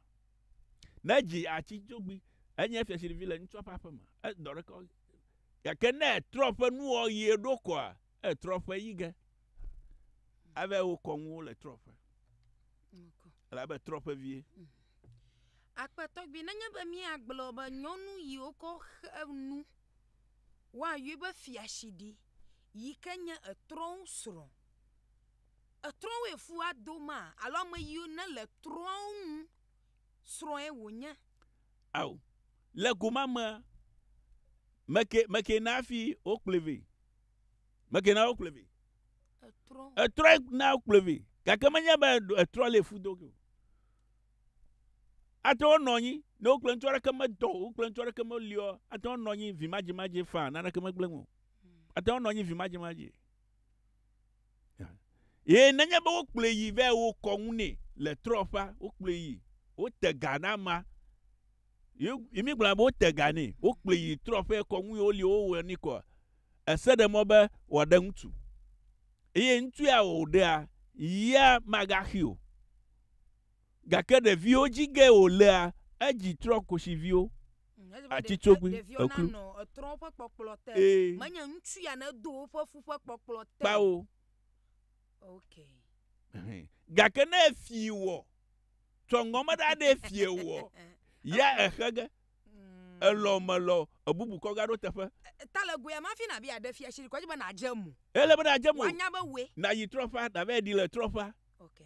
Ne edzi atsi dzogbui, enye fiatsiɖivi le ŋutsua ƒe aƒe me. Edɔ ɖeka wɔm. Gake ne etrɔ ƒe nuwɔɣie ɖo koa, E trɔƒe yi ge. Ave wo kɔ ŋuwo le trɔƒe. Elabe trɔƒe vie. Akpetɔgbi nenye be míagblɔ be nyɔnu yi wokɔ xe nu woayɔe be fiashiɖi yi ke nye etrɔwo srɔ̃. Etrɔwoe fua do ma alo ame yiwo ne le trɔwo ŋu srɔ̃e wònye. Ao, le go ma mea, meke, meke na fi wokplɔe vɛ. Meke na wokplɔe vɛ. Etrɔ. Etrɔ na wokplɔe vɛ. Gake menye be etrɔ le fu do o. Ate ŋu nɔ anyi ne wokplɔ ŋutsu aɖeke medɔ o, wokplɔ ŋutsu aɖeke meliɔ, ate ŋu nɔ anyi vimadzimadzi faa naneke megblẽ o. Ate ŋu nɔ anyi vimadzimadzi. Eye nenye be wokplɔe yi vɛ wokɔ ŋu nɛ le trɔƒea, wokplɔe yi, wote ga na ma, yi mi gblɔ be wote ga nɛ, wokplɔe yi trɔƒea kɔ ŋu ye woli wowɔ ni kɔ. Ese ɖe mɔ be wòaɖe ŋutsu. Eye ŋutsu ya wòɖea yia magaxi o. Gake ɖeviwo dzi ge wòlea edzi trɔ kosiviwo. Atsitsogbui eklu. Ee. Kpao. Gake ne efi wɔ, tsɔ ŋgɔme ɖa ɖe fi wɔ, ya exe ge. Mm. Elɔ melɔ ebubu kɔ gaɖo teƒe. E, e, ta le goya ma fi na bi aɖe fia shiri kɔdzi be na dze mu. Ele be na dze mu. Wanya be we. Na yi trɔƒa, na be di le trɔƒa. Okay.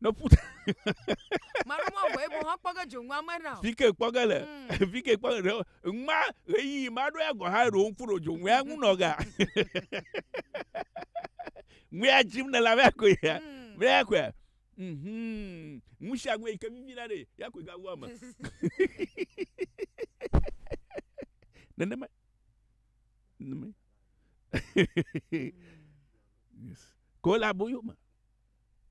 ne ƒu ta. Manu mɔ vɔ ebo hã kpɔge dzo ŋua me na. Fike kpɔge le. Mm. Fike kpɔge le. Ŋma ɣeyiɣi ma ɖo ya gɔ hã ɖo ŋku ɖo dzo ŋua ŋu nɔ ga. Ŋua dzim ne la vɛ ko ya. Mm. Vɛ ya ko ya. Mhm. Ŋu sia ŋu yi ke vivi na ɖe ya ko ga ŋua me. Nenema. Nenema. Yes. Ko la boyo ma.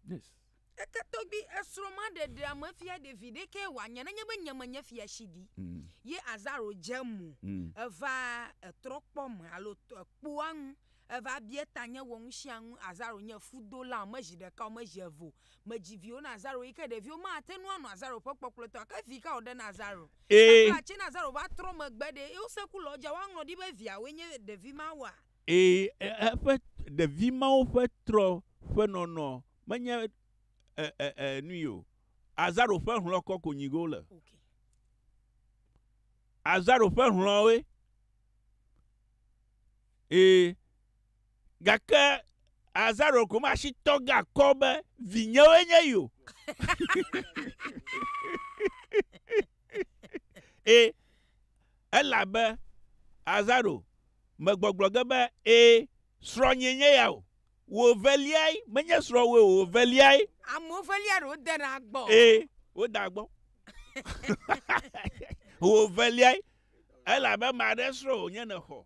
Yes. Ete togbi esrɔ ma ɖe ɖe ame fia ɖe vi ɖe ke wa nye ne nye be nye me nye fia shi ɖi. Mm. Ye azaro je mu. Mm. Eva etrɔ kpɔ me alo kpoa ŋu. Eva bie ta nye wɔ ŋu shia ŋu azaro nye fudo la me zi ɖeka o me zi evo. Me ji viwo na azaro yi ke ɖe viwo ma te nu anɔ azaro ƒe kpɔkplɔ tɔ ke vi ka o ɖe na azaro. Ee. Kakla tse na azaro va trɔ me gbe ɖe eo se ku lɔ ja wa ŋlɔ ɖi be via wo nye ɖe vi ma wa. Ee, eƒe ɖevi mawo ƒe trɔ ƒe nɔnɔ menye e, e, e, nui o. Azaro ƒe hlɔ̃ kɔ ko nyigo wole. Okay. Azaro ƒe hlɔ̃woe. Ee, gake Azaro ko ma si tɔ ga kɔ be vinyewoe nye yi o. Ẽ, elabe Azaro me gbɔgblɔ ge be, Ẽ, srɔ̃nyee nye ya o, wò veliae, menye srɔ̃wòe o, wò veliae. Amewo velia ɖewo dena gbɔ. Ẽ, wodea gbɔ. Wò veliae, elabe ame aɖe srɔ̃ wònye nèxɔ.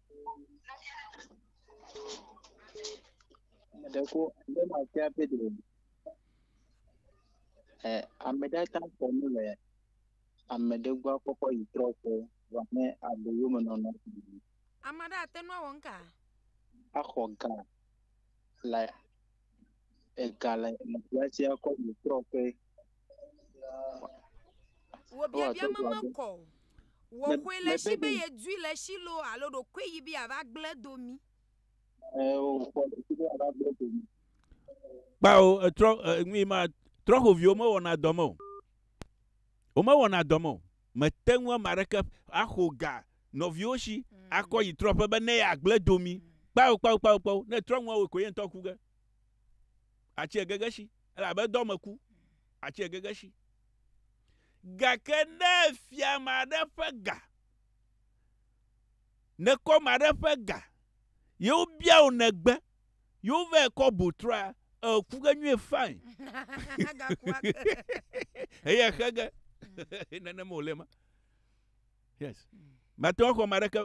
Ɖeko ne mafia Pedro. Ɛ ame ɖe ta kɔ nu le ame ɖe gbɔ kpɔkpɔ yi trɔ kɔ wa ne abo yo me nɔnɔ. Ame ɖe ate nu awɔ ŋka. Axɔ ga le ega le le fiasia kɔ yi trɔ kɔ. Wò biabia me mekɔ o. Wò xoe le si be ye dui le si lo alo ɖokoe yi be ava gble do mi. Kpao etrɔ nui ma trɔ xoviwo me wɔna dɔ me o. Wo me wɔna dɔ me o. Me te ŋu ame aɖeke axo ga nɔviwo si akɔ yi trɔ ƒe be ne ya gble do mi. Kpao kpao kpao kpao ne trɔ nua wò koe ye ŋutɔ ku ge. Atsi egege si. Elabe dɔ me ku, atsɔe gege si. Gake ne èfia ame aɖe ƒe ga, nèkɔ ame aɖe ƒe ga, ye wobia wò nègbe, ye wovae kɔ bu trɔa, èku ge nyuie fain. Eye èxe ge. Nenema wòle ema. Yes. Mate ŋu axɔ ame aɖeke,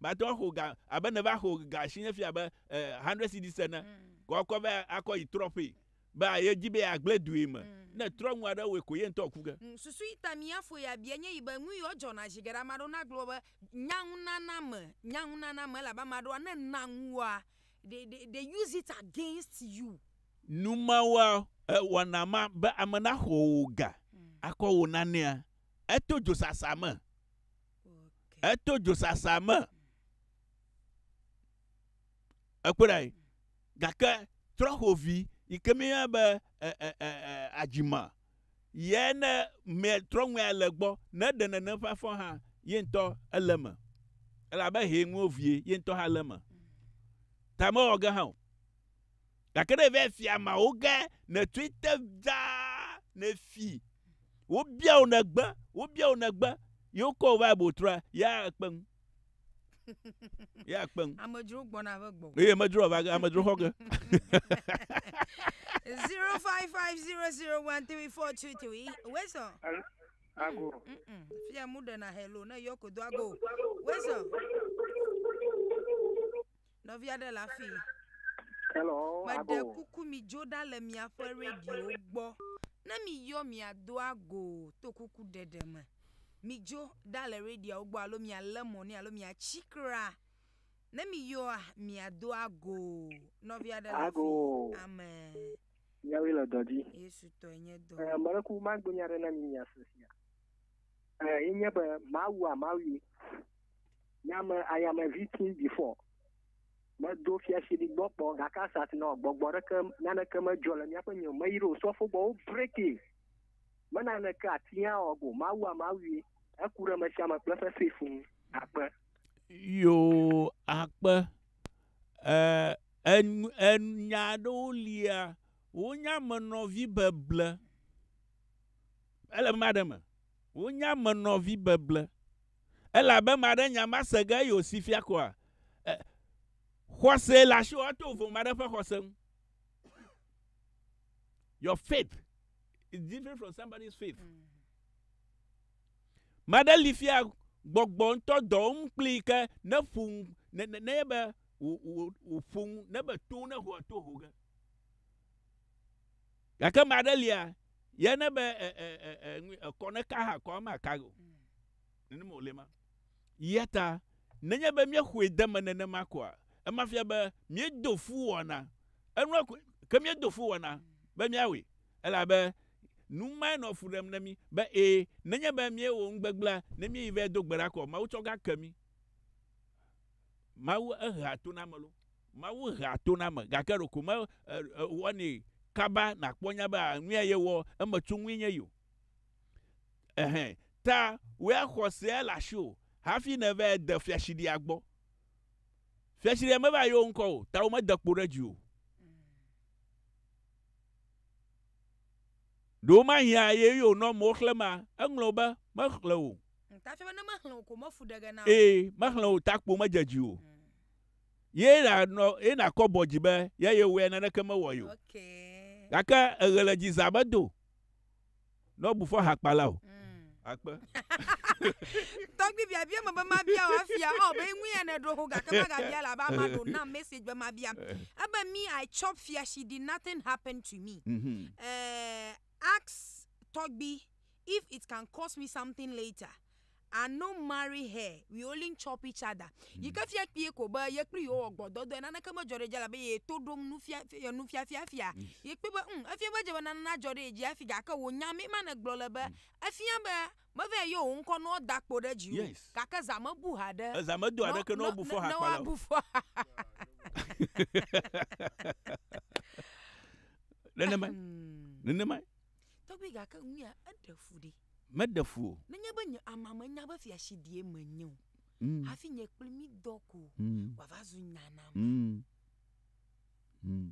mate ŋu axɔ ga abe ne va xɔ ga si nye fia be eh, hundred cedis ene. Mm. Kɔ akɔ va akɔ yi trɔ ƒee be ye dzi be agblẽ due me. Mm. Ne trɔ nu aɖe wɔe ko ye ŋutɔ ku ge. Mm, susu yi ta mía fo ya bia nye yi be nu yiwo dzɔna zi geɖe ame aɖewo nagblɔ be nyaŋunana me, nyaŋunana me elabe ame aɖewo ne na nua they, they, they use it against you. Numawoa, eh, wɔna ma be ame naxɔ wò ga mm. akɔ wò nanea. Eto dzosasa me. Eto dzosasa me. Ekpɔ ɖe gake trɔxovi yi ke mi yɔna be e, e, e, e, adzima yɛ ne mɛ trɔŋuia le gbɔ ne ɖe nene ƒe afɔ hã ye ŋutɔ ele me elabe hɛ ŋuo vie ye ŋutɔ hã le me. Ta mewɔ ge hã o. Gake ne èvae fi amea wo ge nètsoe te dzaa nèfi wobia wò nègbe wobia wò nègbe ye wokɔ wò vae botroa ya ekpe ŋu. Ya ekpe ŋu. Amedzro gbɔna ƒe gbɔ. Eye amedzro ava ge amedzro xɔ ge. Zero five five zero zero one three four two three. Wesɔ. Al- Ago. Mm-mm. Fia mu ɖena hello ne yɔ ko do ago. Wesɔ. Nɔvi aɖe le afii. Hello, Meɖe abo. kuku midzo ɖa le miaƒe radiowo gbɔ. Ne miyɔ miado ago to kuku ɖeɖe me. Midzo ɖa le radioawo gbɔ alo mialé mɔ nɛ alo miatsi kra. Ne miyɔa, miado ago. Nɔvi aɖe le Ago. afii. Amen. Míawoe le dɔ dzi. Yesu tɔe nye dɔ. Eh, Meleku magblɔ nya aɖe na mi miase sia. Eh, enye be Mawua Mawue. Nya me ayame vi ti bifɔ. Me do fiasi di gbɔ kpɔ gake asat nɔ gbɔgbɔ ɖeke naneke me jɔ le miaƒe nyo me yiro sɔ fogbɔ wo breki. Me naneke ati ya ɔ go mawu a mawui eku ɖe me sia me kple fefe fun akpe. Yo akpe. E en en nya ɖewo lia wo nya me nɔ vi beble. Ele ma ɖe me. Wo nya me nɔ vi beble. elabe ame aɖe nya mase ge eye wòsi fia koa? E, xɔse le asiwò ato ʋum aɖe ƒe xɔse ŋu. Your faith is different from somebody's faith. Mm. Maɖe li fia gbɔgbɔ ŋutɔ dɔ wɔm kplii ke ne ƒu ne ne ne be wòƒu ne be to ne ho to ho ge. Gake ame aɖe lia, ye ne be e, e, e, e, nui, ekɔ ne ka hã kɔ ma ka o. Nenema wòle ma. Ya ta, nenye be míexɔe de me nenema koa, ema fia be míedo fu wɔna. Enua koe, ke míedo fu wɔna be míawɔe, elabe nu mae nɔ fu ɖem na mí be ee, nenye be míewɔ nu gbegblẽa, ne míeyi vɛ do gbe ɖa koa, Mawu tsɔ gake mí. Mawu ehea to na ame loo. Mawu hea to na ame gake ɖeko me wɔnɛ kaba nakpɔ nya be nuya ye wɔ eme tso ŋui nye yi o. Ehe ta wea xɔsea le asi o hafi ne va de fiasiɖia gbɔ. Fiasiɖia me va yi wo ŋkɔ o ta wo me de kpo ɖe dzi o. Ɖe womahiã eye wònɔ amewo xlẽmea? Eŋlɔ be, Mexlẽ o. Ee, mexlẽ o, takpo medze dzi o. Ye nànɔ, ye nàkɔ bɔ dzi be ya yewɔe, naneke mewɔ ye o. Gake eɣe le dzi zã medo. Ne wobu fɔ hakpala o. Akpe. Tɔgbi bia bia me be mabia wa fia ɔ be ŋui ya ne ɖo ho gake maga bia la ba ma ɖo na message be mabia. Ebe me I chop fia she did nothing happen to me. Mm -hmm. Eh, ask tɔgbi if it can cost me something later. are no marry her we only chop each other mm. yi ke fia kpie ko be ye kple yewo wɔ gbɔdɔdɔe naneke medzɔ ɖe dzi elabe ye to ɖom nufia ye nufia fia fia ye kpɔe be um efia be dze be nana dzɔ ɖe dzi afi gake wò nya mi ma ne gblɔ le be efia be mevɛ yɔ wò ŋkɔ nɔ da kpo ɖe dzi o yes. gake za me bu ha ɖe eza me do ha ɖe ke nɔ bu fɔ ha kpala o nenema nenema Tɔgbi gake ŋuya eɖe fu ɖe. Meɖe fu o. Nenye be nye amea menya be fiasidie menye o mm. hafi nye kpli mi dɔ ko mm. wòava zu nya na ma. Mm. Mm.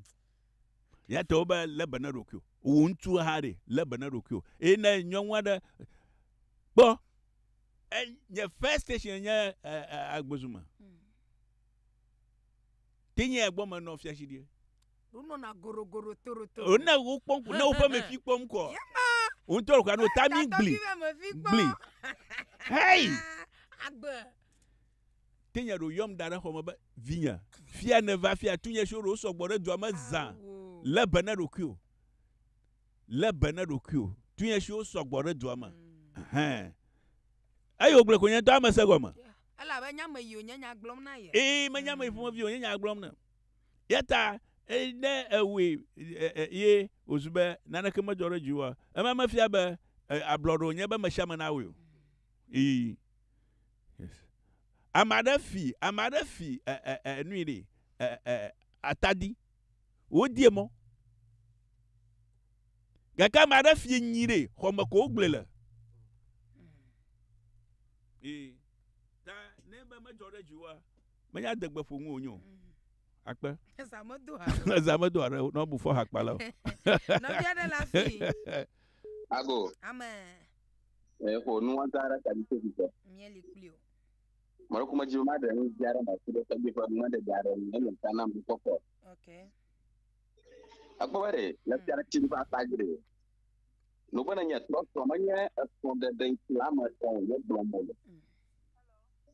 Yɛtɔ be lé be ne ɖokuiwò. Wò ŋutsu hã ɖe lé be ne ɖokuiwò. Eye ne nyɔnu aɖe kpɔ nye first station nye agbezume. Tinye egbɔ menɔ fiasidie. ne wokpɔ ŋku ne woƒe mefi kpɔ ŋkɔ ŋutɔ ɖeka no ta mi gbli gbli hei te nya ɖo yɔm da ɖe xɔ me be vinye fia ne va fia tu nye si ɖo sɔgbɔ ɖe dua me zã le be ne ɖokui o le be ne ɖokui o tu nye siwo sɔgbɔ ɖe dua me hɛn eye wògblẽ ko nye ŋutɔ ame se gɔme elabe nya me yi wònye nya gblɔm na ye ee menye ame yi ƒomevi wònye nya gblɔm na Eya ta ne ewɔe ye wòzu be naneke medzɔ ɖe dziwòa, ema mefia be ablɔɖe wònye be mesiame nawɔe o. Ii. Yes. Ame aɖe fi, ame aɖe fi nui ɖi, atadi. Wodie mɔ. Gake ame aɖe fi nyi ɖi, xɔme ko wogblɔe le. Ii. Ta ne be medzɔ ɖe dziwòa, menya adegbe ƒo ŋu wonyo akpe eza medo ha eza medo ha ɖe bu fɔ hakpa le nɔvia ɖe la fi ago ame eƒo nu wanta ɖe tadi to bi tɔ mieli kuli o mɔlɔku me dzi ma ɖe nu dzi aɖe ma ti ɖe tadi ƒe nu ɖe dzi aɖe nu ele ta na mu kɔkɔ okay akpɔ be le fia ɖe ti ba ta gre no bene nye trɔtrɔ menye esɔ ɖeɖe la me tɔ wo gblɔ mo le mm.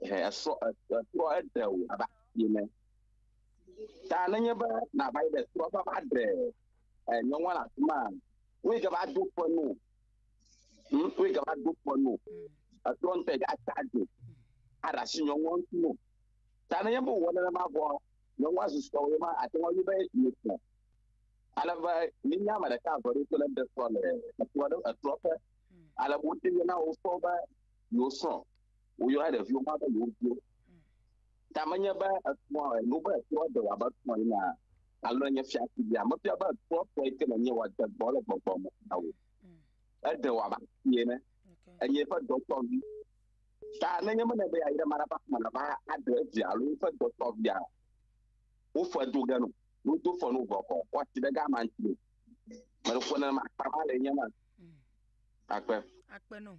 esɔ etrɔ eɖe o abe asi ene. Ta nenye be nàva yi ɖe trɔ va va ɖe nyɔnua le afi ma, woe gava do ƒe no. Hmm, woe gava do ƒe no. Hmm. Etrɔ ŋutɔ yi gava tsadzo aɖe asi nyɔnua ŋuti no. Ta nenye be wòwɔ nenema vɔ, nyɔnua susɔ wo ma ate ŋu be yetɔ. Ale be minya ame ɖeka eve ɖo to le ɖe trɔ le etrɔ ɖe etrɔ ƒe. Hmm. Ale be wote na wo sɔ be yewo srɔ̃. woyɔna ɖeviwo ma be yewo viwo. Ta menye be ekpɔ enu be ekpɔ de wòabe ekpɔ yina alo enye fiafi bia. Mefia be ekpɔ kpɔ yi ke le nye wòade gbɔ le gbɔgbɔ me na wò. Ede wòabe asi ene. Enye eƒe dɔtɔvi. Ta nenye mene be yeayi ɖe ame aɖe ƒe aƒeme nava aɖe evia alo eƒe dɔtɔvia, woƒe do ge no. Wodo fe no vɔ kɔ kɔ asi ɖe gama ŋuti o. Meɖo ƒo nenema akpa ma le enye ma. Akpe. Akpe no.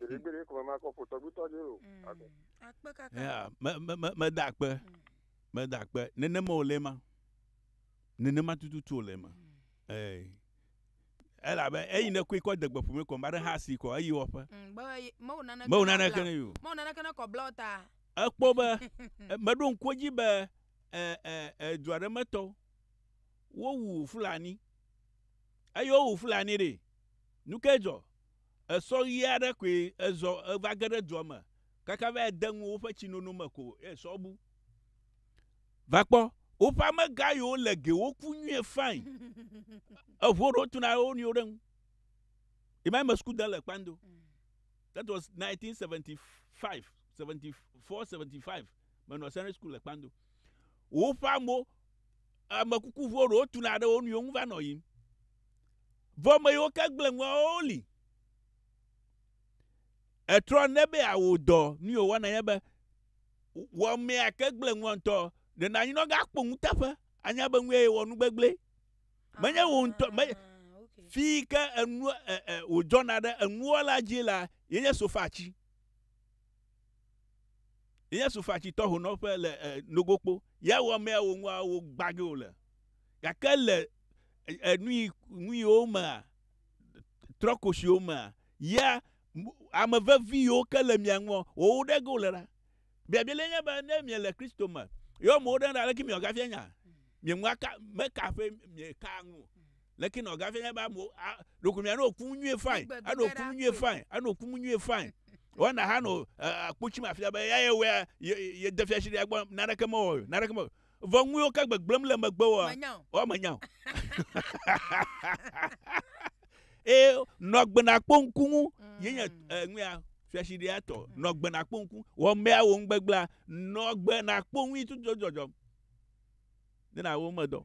Gbeɖegbeɖe ko mama kɔ ƒo tɔgbitɔ dzi o. Ado. Akpe kaka. Ya, me, me, me, meda akpe. Meda akpe. Nenema wòle ema. Nenema tututu wòle ema. Ee. Elabe eyi nekui kɔ de gbeƒu me kɔ, mba ɖe ha si kɔ, eyi wɔƒe. Mm, be ye- mewo naneke Mewo na naneke bla- ne yi o. mewo naneke ne kɔ bla o ta. Ekpɔ be, e- meɖo ŋku edzi be e, e, e, du aɖe me tɔwo, wowu Fulani. Eye wowu Fulani ɖe. Nu kae dzɔ? Esɔ ʋi aɖe koe ezɔ va ge ɖe dua me kaka va yi de ŋu woƒe tsinono me ko ye sɔ bu. Va kpɔ, woƒe amegã yiwo le ge woku nyuie fain. Eŋu aɖewo tu na wo nɔewo ɖe ŋu. Ye ma me sukude le Kpando. That was 1975, 74, 75. Menɔ Sunday school le Kpando. Woƒe amewo, amekukuŋuwo ɖewo tu na ɖe wo nɔewo ŋu va nɔ yiyim. Vɔ ame yiwo ke gblẽ ŋua woawo li. Etrɔ ne be awò dɔ nu yi wòwana nye be wò amea ke gblẽ ŋua ŋutɔ ɖe nanyi ne woagakpɔ ŋutaƒe anya be nu ye wɔ nu gbegblẽ. Menye wò ŋutɔ me fi yi ke enu wòdzɔna ɖe enuwɔla dzi la yenye sofa tsi. Yesu fa tsitɔ honɔƒe le e, nogokpo. Ya wɔ mea wo ŋua wo gbage wo le. Gake le enui nui wo mea, trɔkoshi wo mea, ya ame vevi yiwo ke le mia ŋua, wo wo ɖe go le ɖa. Biabia le nye be ne mie le Kristo me, yɔ mo ɖe ɖa leke mia gafia nya? Mie ŋua ka, me ka ƒe mie ka ŋu. leke na ɔgafia nya be amewo a ɖeko mianɔ oku nu nyuie fain anɔ oku nu nyuie fain anɔ oku nu nyuie fain wɔna ha nɔ akpotsi me afia be ya ye wɛa ye ye de fiasi ɖe agbɔ naneke mewɔ o naneke mewɔ vɔ ŋu yiwo ke gbegblẽm le megbe wɔa wɔa menya o eye nɔ agbe nakpɔ ŋku ŋu ye nye ŋuya fiasi ɖe atɔ nɔ agbe nakpɔ ŋku wɔ mea wo ŋugbegblea nɔ agbe nakpɔ ŋui tutu dzɔdzɔm ne na wo medɔ.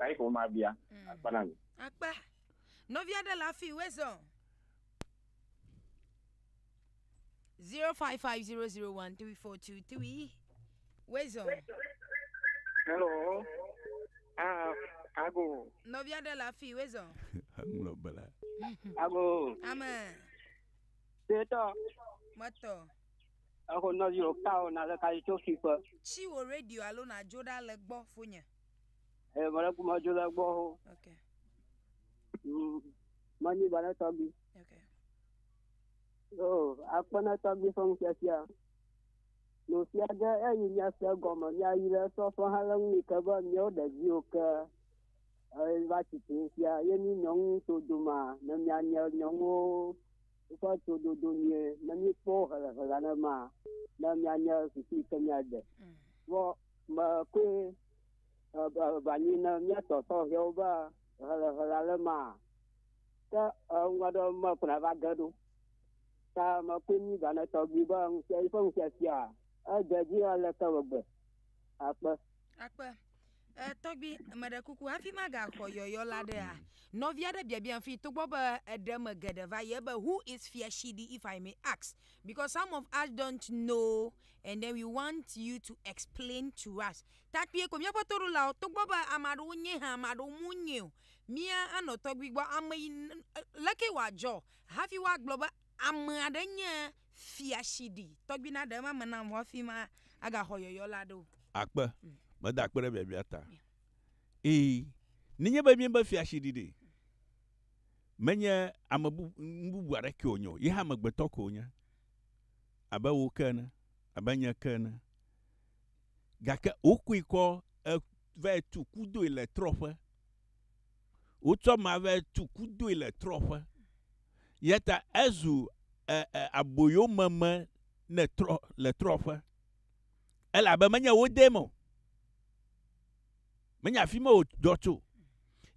Ɣi ko ma bia. Mm. Akpa na mi. Akpa. Nɔvi aɖe le afi we zɔ. 0550013423 Wezo. Hello. Ah, ago. Nɔvi aɖe le afi Wezo. Aŋlɔ bela. Ago. Amen. Tetɔ. Metɔ. Ako nɔvi o ka o na le ka tso fi ƒe. Tsi wo radio alo na dzo ɖa le gbɔ fonye. Eh, voilà pour moi, je la vois. Ok. Mani bana tabi. Ok. Oh, apa na tabi fong sia sia. No sia ga e yi nya sia goma nya yi le so fo ha lang ni ka ba nyo de ji o ka. Eh, va ti ti sia ye ni nyong to duma na nya nya nyong o. Woƒe tododo nye ne míekpɔ hlɛ̃hlẽa ne ma ne míanye susu yi ke míade. Vɔ me koe vanyi ne míatɔ sɔhɛwo be hlɛ̃hlẽa ne ma ke ŋu aɖe me kuna va ge ɖo. Ta me koe mi va ne tɔgbi be ŋusẽ yi ƒe ŋusẽ fia ede dzi aleke megbe akpe. Akpe. E, tɔgbi, meɖe kuku hafi magaxɔ yɔyɔ la ɖea. Mm. Nɔvi aɖe biabia fi togbɔ be eɖe me geɖe va ye be who is Fiashidi if I may ask because some of us don't know and then we want you to explain to us. Takpie ko míaƒe toɖolawo togbɔ be ame aɖewo nye hã ame aɖewo mu nye o. Mía anɔ tɔgbi gbɔ ame yi leke wòadzɔ hafi woagblɔ be ame aɖe nye Fia shi ɖi. Tɔgbi na ɖe ema me nam hafi ma aga xɔ yɔyɔ la ɖo. Akpe, meda akpe ɖe biabia ta. Ii, nenye be miebe fia shi ɖi ɖe, menye ame bu, nu bubu aɖeke wònye o, ye hã amegbetɔ ko wònye, abe wò ke ene, abe nye ke ene. Gake wokui kɔ e, vae tu kudoe le trɔ̃ƒe. Wotsɔ ame ave tu kudoe le trɔ̃ƒe. Eya ta ezu e, e, aboyomeme ne trɔ, le trɔ̃ƒe. Elabe menye wo dee me o. Menye afi ma wòdzɔ tso.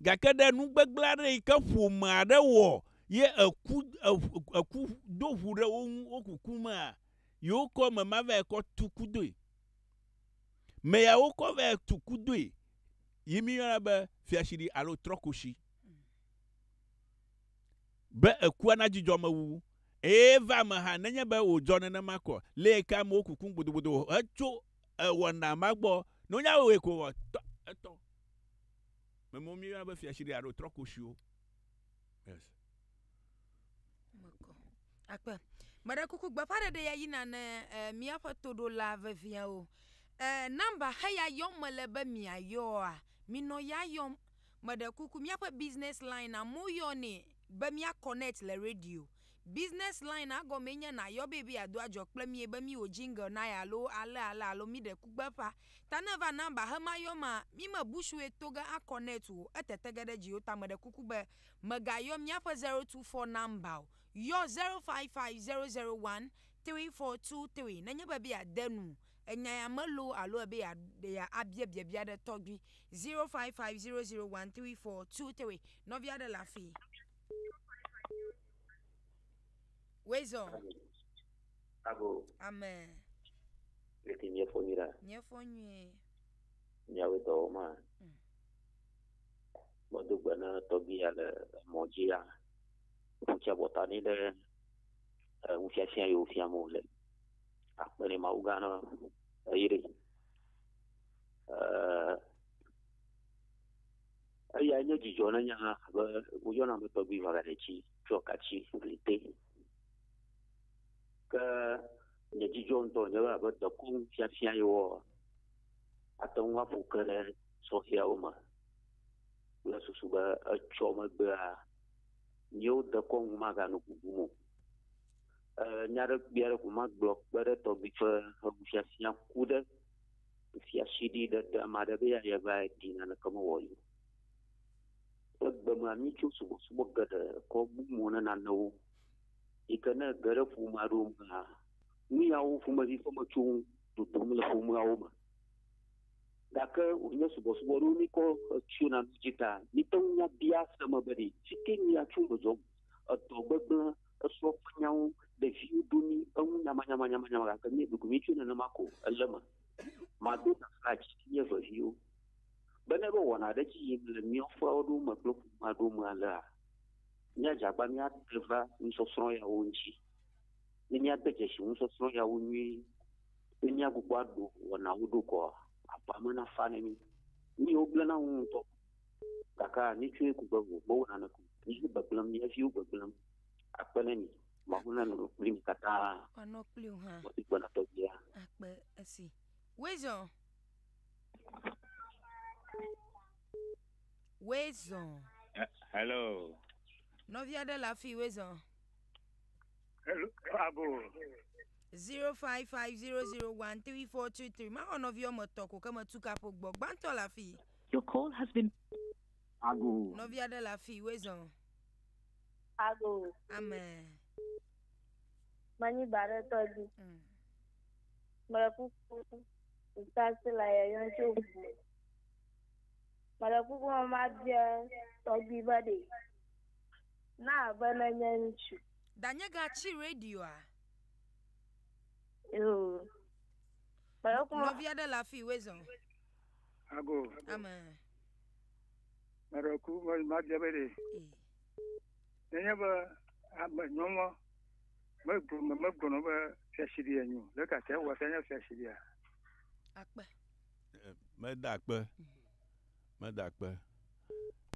Gake ɖe nu gbegblẽ aɖe yi ke ƒome aɖe wɔ ye eku, eku do ŋu ɖe wo ŋu, wokuku mea, yewo kɔ ame ma vae kɔ tu kudoe. Meya wokɔ vɛ tu kudoe yi miyɔna be fiashiɖi alo trɔkoshi. Be ekua nadzudzɔ amewuwu. Eye va eme hã, nenye be wòdzɔ nenema ko, lee ke amewo kukum gbodogbodo hetso ewɔna ma gbɔ. Ne wonya wɔwɔe ko etɔ. Memewo miyɔna be fiashiɖi alo trɔkoshiwo. Yes. Akpe. Meɖe kuku gbeƒãɖeɖe ya yina ne eh, míaƒe toɖola veviawo. Eh, nɔmba heya yɔm mele be miayɔa, minɔ ya yɔm. Meɖe kuku míaƒe business line amewo yɔnɛ be mía connect le radio. Business line a gɔmee nye nayɔ be be ado adzɔ kple mie be miwo jingle nae alo ale ale alo mi ɖe kugbe ƒa ta ne va na ba he ma yɔ ma mi me busue to ge a connect o etete ge ɖe dziwo ta meɖe kuku be me ga yɔ miaƒe 024 number o yɔ 0550013423 ne nye be be ya de nu enya ya me loo alo ebe ya be ya a bia biabia ɖe tɔgbi 0550013423 nɔvi aɖe le afii. Wezɔ. Abo. Amɛ. Leke nyɛ fɔ nyuie ɖa. Nyɛ fɔ nyuie. Nyɛawo dɔwɔ ma. Mm. Gbɔdo gbe na tɔgbi ya le mɔ dzi ya. Ŋutsɛ bɔta ni ɖe ŋufiafia yi wofia mo le. Akpe ne mawu gã na eyiri. Ɛɛ. Eyae nye dzidzɔ na nye hã abe woyɔna be tɔgbui ʋaɖaɖetsi tsɔ katsi gli te. Ke nye dzidzɔ ŋutɔ nye be abe dekɔnu fiafia ye wɔ ate ŋu aƒu ke ɖe sɔhɛawo me kple susu be etsɔ megbea míewo dekɔnu magano bubum o. Nya ɖe kpui aɖe ko magblɔ kpe ɖe tɔgbui ƒe ŋufiafia ku ɖe Efia sidi ɖe te ame aɖe be yeayi eva ɖi naneke mewɔ yi o. Egbe mea, míetso subɔsubɔ geɖe kɔ bu mo na nanewo yi ke ne ege ɖe ƒome aɖewo mea, nu yawo ƒomevi ƒe metsowo dodom le ƒomeawo me. Gake wònye subɔsubɔ ɖewo míekɔ tso na nu dzi ta. Míete ŋu bia ase me be ɖe fike míatso me zɔm, edɔ gbegblẽ esɔ ƒe nyawo ɖeviwo ɖo ni eŋu nyamanyamanyamanyama gake mí ɖuɖu mí tso nenema ko ele me mado gafla dzi nye veviwo be ne ɖo wɔna ɖe dzi yim le mía ƒe aɖewo me kple ƒome aɖewo me alea míadze agba míate va nusɔsrɔ̃ yawo ŋuti ne míade dzesi nusɔsrɔ̃ yawo nyuie ne míagbugbɔ aɖo wɔnawo ɖo kɔa aƒea me nafa ne mí míwo gblẽ na ŋu ŋutɔ Gake mitsɔe ku be wò Mawu nane ku. Míaƒe gbegblẽm, mía viwo gbegblẽm akpe ɖe mi. Mawu nanɔ kpli mi katã. Wòanɔ kpli wò hã. Wòadi gbe na tɔgbia. Akpe esi. Wezɔ. Wezɔ. Hello. Nɔvi aɖe le afii wezɔ. Hello. Abo. 0550013423 mawɔ nɔvi wɔme etɔ̃ ko ke metu kaƒo gbɔ gbãtɔ le afii Your call has been. Ago. Nɔvi aɖe le afi woe zɔn. Ago. Ame. Manyi ba ɖe tɔ dzi. Mm. Mele kuku ntasi le yeyɔm tso ŋu. Mele kuku me mabia tɔgbi be ɖe na abe nenye ŋutsu. Danye gatsi radioa. Yoo. Mele kuku. Nɔvi aɖe le afi woe zɔn. Ago. Ame. Meɖe ku madzia be ɖe. Nenye be ame nyɔnua megblɔ megblɔna be fiasiɖi enyo ɖeka te wɔ se nye fiasiɖia. Akpe. Meda akpe. Meda akpe.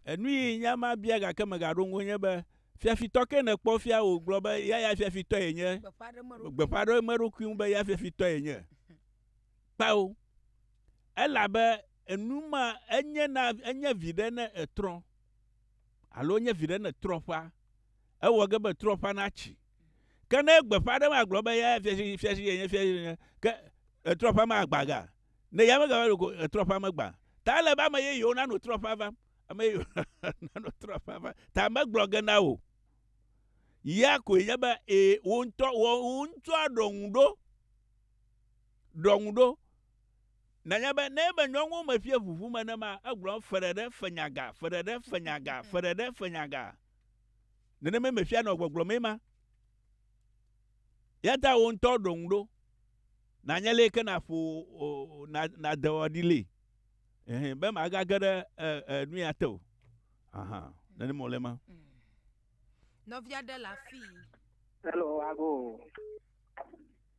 Enu yi nya ma bia gake megaɖo ŋu nye be fiafitɔ ke nekpɔ fia wògblɔ be ya ya fiafitɔ yenye. Gbeƒã ɖe emeɖokui ŋu be ya fiafitɔ yenye. kpao, elabe enu ma enye na enye viɖe ne etrɔ alo enye viɖe ne etrɔ ƒã. Ewɔ ge be trɔ ƒã natsi. Ke ne gbeƒã aɖe ma gblɔ be ya fiasi fiasi yenye fiasi yenye ke etrɔ ƒã ma agba ga. Ne ya megava ɖo ko etrɔ ƒã megba. Ta ele be ame yeyewo nano trɔ ƒã vam. Ame yeyewo nano trɔ ƒã vam. Ta megblɔ ge na wò. Ya koe nye be e wò ŋutɔ wò ŋutɔ ɖɔ ŋu ɖo. Ɖɔ ŋu ɖo. Nànya be ne ebe nyɔnuwo meƒia ʋuʋu me ne ma, egblɔm feɖeɖe fenyaga, feɖeɖe fenyaga, feɖeɖe fenyaga. Nenema meƒia nɔ gbɔgblɔ mee ma. Yata wò ŋutɔ ɖɔ ŋu ɖo. Nànya le ke na ƒo o, na, na dewɔ ɖi le. Ehe, be maga ge ɖe e, e, nu ya te o. Aha, nenema wòle ma. Mm. Nɔvia ɖe le afii. Hello, ago.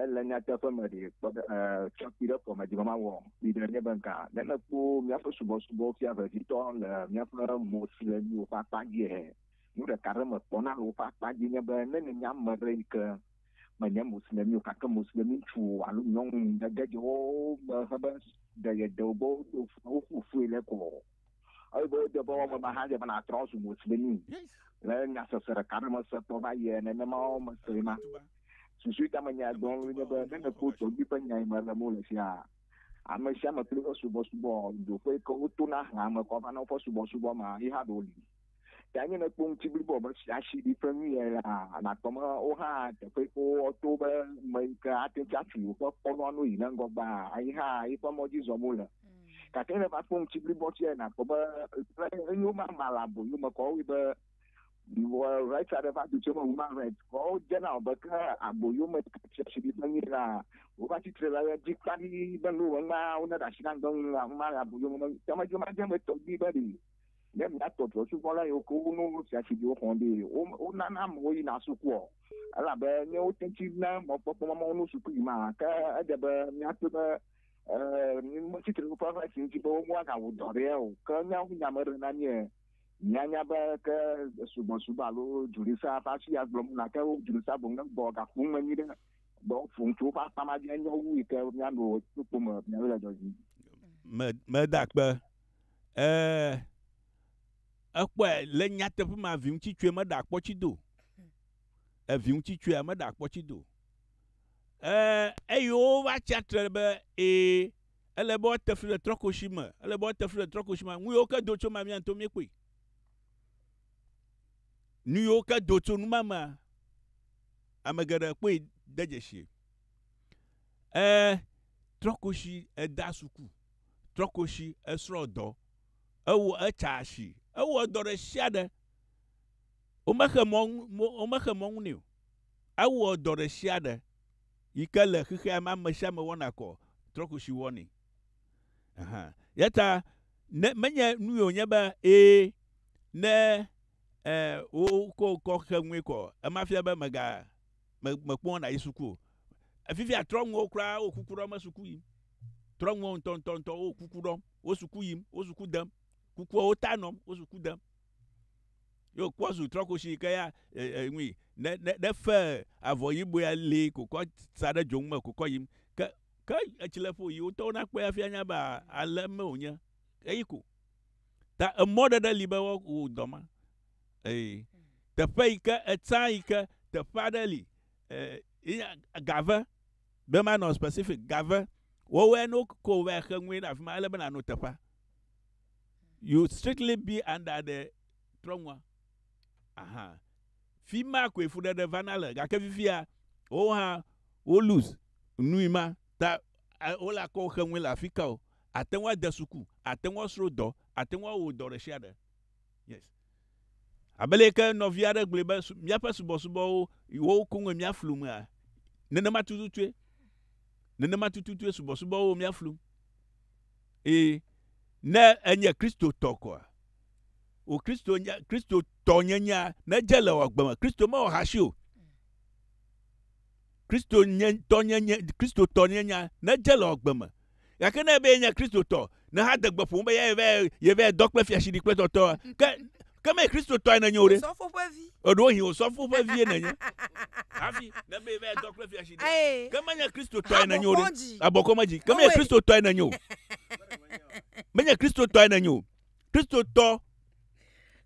Ele nyateƒe me ɖe tsɔ kpi ɖe kɔme dzi be mawɔ kpi ɖe nye be gã ne mekpɔ míaƒe subɔsubɔwo fia vevitɔ le míaƒe mo si le nuwo ƒe akpa dzia? Nu ɖeka aɖe mekpɔna le woƒe akpa dzi nye be ne nènye ame aɖe yi ke menye Moslemi o gake Moslemi ŋutsu alo nyɔnu nège dze wo me hebe ɖe yedewo gbɔ woƒo fui le kɔ Eyi be wodze be woame me hã dze be nàtrɔ azu Muslimi le nyasese ɖeka ɖe me se kpɔ va yia nenema wo me se ma. Susu ka me nya gbɔ ŋu nye be ne nèkpɔ tɔgbui ƒe nyae me ɖem wole fia, ame sia ame kple eƒe subɔsubɔ, ɖoƒe yi ke wotona hlãa me kɔ va na woƒe subɔsubɔ ma, yi hã ɖe woli. Ya nye ne kpɔ ŋuti blibo wɔme si asi ɖi ƒe nu yɛ la, nakpɔ me wo hã teƒe ko woto be me yi ke ate ŋuti atu woƒe kɔnua no yi ne ŋgɔ gbaa ayi hã yi ƒe mɔ dzi zɔm wole. Gake ne va kpɔ ŋuti blibo si yɛ nakpɔ be le eyo mama le aboyo me kɔ woe be rights aɖe va do tso me human rights kɔ wodze na be ke aboyo me si asi ɖi ƒe nu yɛ la wova tsitre le ɣe dzi kpaɖi be no ŋgba wo ne ɖe asi na ŋgbe ŋu la ŋgba le aboyo me ke me dzo ma dze me tɔgbi be ɖi. Ne míatɔ trɔ̃subɔla yiwo ke wonɔ wo fia si dzi woxɔ ɖi wo wonana amewo yina sukua o, elabe ne wote ŋu na mɔkpɔkpɔ ma mɔnu suku yi ma ke edze be míakpɔe be e metsi tre ɖe ƒe si ŋuti be woagawu dɔ ɖea o. Ke ne wowu nya me ɖe na mí e míanya be ke subɔsubɔ alo dzrolisa ƒe asi ya gblɔm na ke dzrolisa boŋ ne gbɔ gaƒom me nyuie ɖe gbɔ ƒom tso woƒe akpa ma dzi enye wu yi ke míano kpokpo me míawo le dɔ dzi. Meda kpe. Ee, ekpɔe le nyateƒe ma viŋutsitsue meɖe akpɔtsido. Eviŋutsitsue meɖe akpɔtsido. Ee, eye wova tsi atsitre be ee, ele be woate fli le trɔkoshi me, ele be woate fli le trɔkoshi me. Nu yiwo ke do tso ma mía ŋutɔ míekpɔe. Nu yiwo ke do tso nu ma mea, ame geɖe kpɔe de dzesi. Ee, trɔkoshi eda suku. trɔ koshi esrɔ̃ dɔ. Ewo etsa asi. Ewɔ dɔ ɖe sia ɖe. Womexe mɔ ŋu womexe mɔ ŋu nɛ o. Ewɔ dɔ ɖe sia ɖe yi ke le xexea me ame sia ame wɔna kɔ trɔ koshi wɔnɛ. Aha ya ta ne menye nue wònye be e ne e wokɔ kɔ xe ŋue kɔ ema fia be mega me mekpɔ na yi suku o. Efifia trɔ ŋuwo kura wo kuku ɖɔ me suku yim. Trɔ ŋuwo ŋutɔ ŋutɔ ŋutɔ wo kuku ɖɔ, wo suku yim, wo suku dem. Kukua wo ta nɔm, wo suku dem. Yo kpɔ zu trɔ koshi ke ya e, e, ŋui ne ne ne fe avɔ yibɔ ya li kokɔ sa ɖe dzoŋu me kokɔ yim. Ke ke etsi le ƒo yi wo ŋutɔwo na kpɔe hafi anya be ale me wonye. Eyi ko. Ta emɔ ɖe ɖe li be wo wo dɔ ma. Eye teƒe yi ke etsã yi ke teƒe aɖe li eh, gave be manɔ specific gave wɔwɔe no ko va xe ŋue ɖe afi ma ele be nano teƒea you strictly be under the trɔnua aha fi ma koe fuɖeɖe vana le gake fifia wo hã wo lose nui ma ta eh, wole akɔ xe ŋue le afi ka o ate ŋu ade suku ate ŋu asro dɔ ate ŋu awo dɔ ɖe sia ɖe Yes. Abe le ke nɔvi aɖe gblɔe be míaƒe subɔsubɔwo wo koŋe míaflu mea, nenema tututue. Nenema tututue subɔsubɔwo míaflu. Eye ne enye Kristotɔ koa, o Kristo nya Kristotɔ nyenyea nedze le wò agbe me. Kristo mewɔ hasi o. Kristo nye tɔ nye nye Kristo tɔ nye nya nedze le ɔgbe me. Gake ne be ye nye Kristo tɔ, ne ha degbe ƒom be ya ye vɛ ye vɛ dɔ kple fiashi ɖi kple tɔtɔ, ke ke me Kristo tɔ ene nye o ɖe. Sɔfo ƒe vi. Eɖo hin o sɔfo ƒe vi ene nye. Hafi ne be ye vɛ dɔ kple fiashi ɖi. Ke me nye Kristo tɔ ene nye o ɖe. Abɔ kɔme dzi. Ke me nye Kristo tɔ ene nye o. Me nye Kristo tɔ ene nye o. Kristo tɔ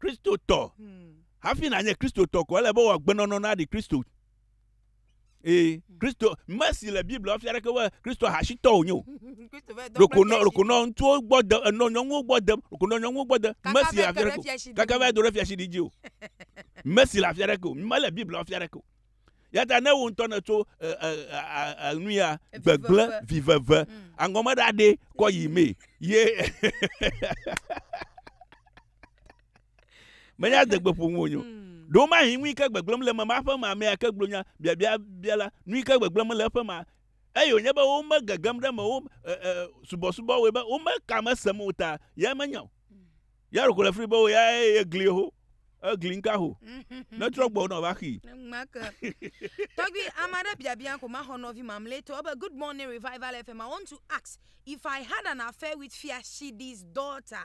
Kristo tɔ. Hmm. Hafi na nye Kristo tɔ ko ele be wɔ agbenɔnɔ na ɖi Kristo. ee kristo me si le biblia wofia ɖeke be kristo hasitɔ wònye o ɖokonɔ ɖokonɔ ŋutsuwo gbɔ de enɔ nyɔnuwo gbɔ de ɖokonɔ nyɔnuwo gbɔ de me si le afia ɖeke o kaka va do ɖe fiasi ɖidzi o me si le afia ɖeke o mele biblia wofia ɖeke o yata ne wo ŋutɔ ne tso nu ya gbegble viveve mm. aŋgɔme ɖaɖe kɔ yi mee ye menya adegbe ƒo ŋu wonyo hmm. ɖo ma hi ŋui ke gbegblem le mema ƒe ma amea ke gblɔ nya biabia bia la nui ke gbegblem le eƒe ma eye wònye be wome gegem ɖe me wo subɔsubɔ woe be wome ka me sem o ta ya menya o hmm. ya ɖoko le fri be wo ya ye gli ho egli nka ho ne trɔ gbɔ nɔ va xii. tɔgbi ame aɖe biabia ko ma xɔ nɔvi mamlɛtɔ ebe good morning revival fm i want to ask if i had an affair with fiashidi's daughter.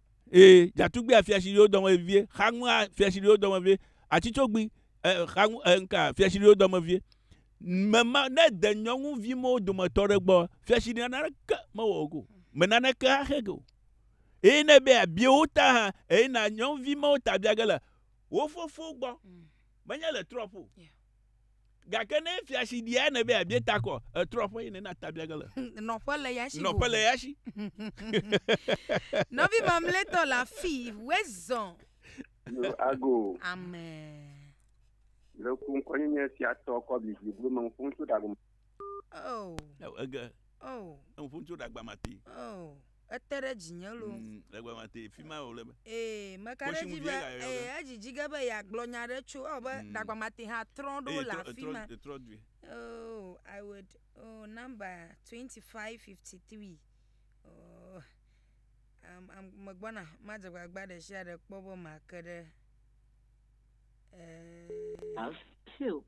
Ee, dzatugbia fia tsi ɖiwo dɔme vevie, xaŋua fia tsi ɖiwo dɔme vevie, atsitsogbi e, xaŋu e, nka fia tsi ɖiwo dɔme vevie. Mema ne de nyɔnuvi mewo dometɔ ɖe gbɔ, fia tsi ɖi naneke mewɔ go, me naneke axe go. Eye ne be abie wo ta hã, eye na nyɔnuvi mewo ta bia ge le wo fofo gbɔ, mm. menye le trɔp o. Yeah. Gake ne efia si ɖia ne be abie ta kɔ, etrɔ ƒe yin na tabia gele. Nɔƒe le ya si. Nɔƒe le ya si. Nɔvi mamletɔ la fi wezɔ. Yo ago. Amen. Le ku ŋkɔ nye nye sia tɔ kɔ bi bi blu mang fun tu dagum. Oh. Ege. Oh. Fun tu dagbamati. Oh. Ete ɖe dzinye loo. Mm, le gbe ma te, fi ma wòle be. Ee, meka ɖe edzi be, ee, edzi dzi ge be yeagblɔ nya ɖe tso, ewɔ be mm. ɖagba ma te hã trɔ ɖo le afi ma. Etrɔ dui. Oh, I would, oh, number twenty five fifty three. Oh, um, um, megbɔna, madze gbagba ɖe sia ɖe kpɔ be make ɖe. Uh, two,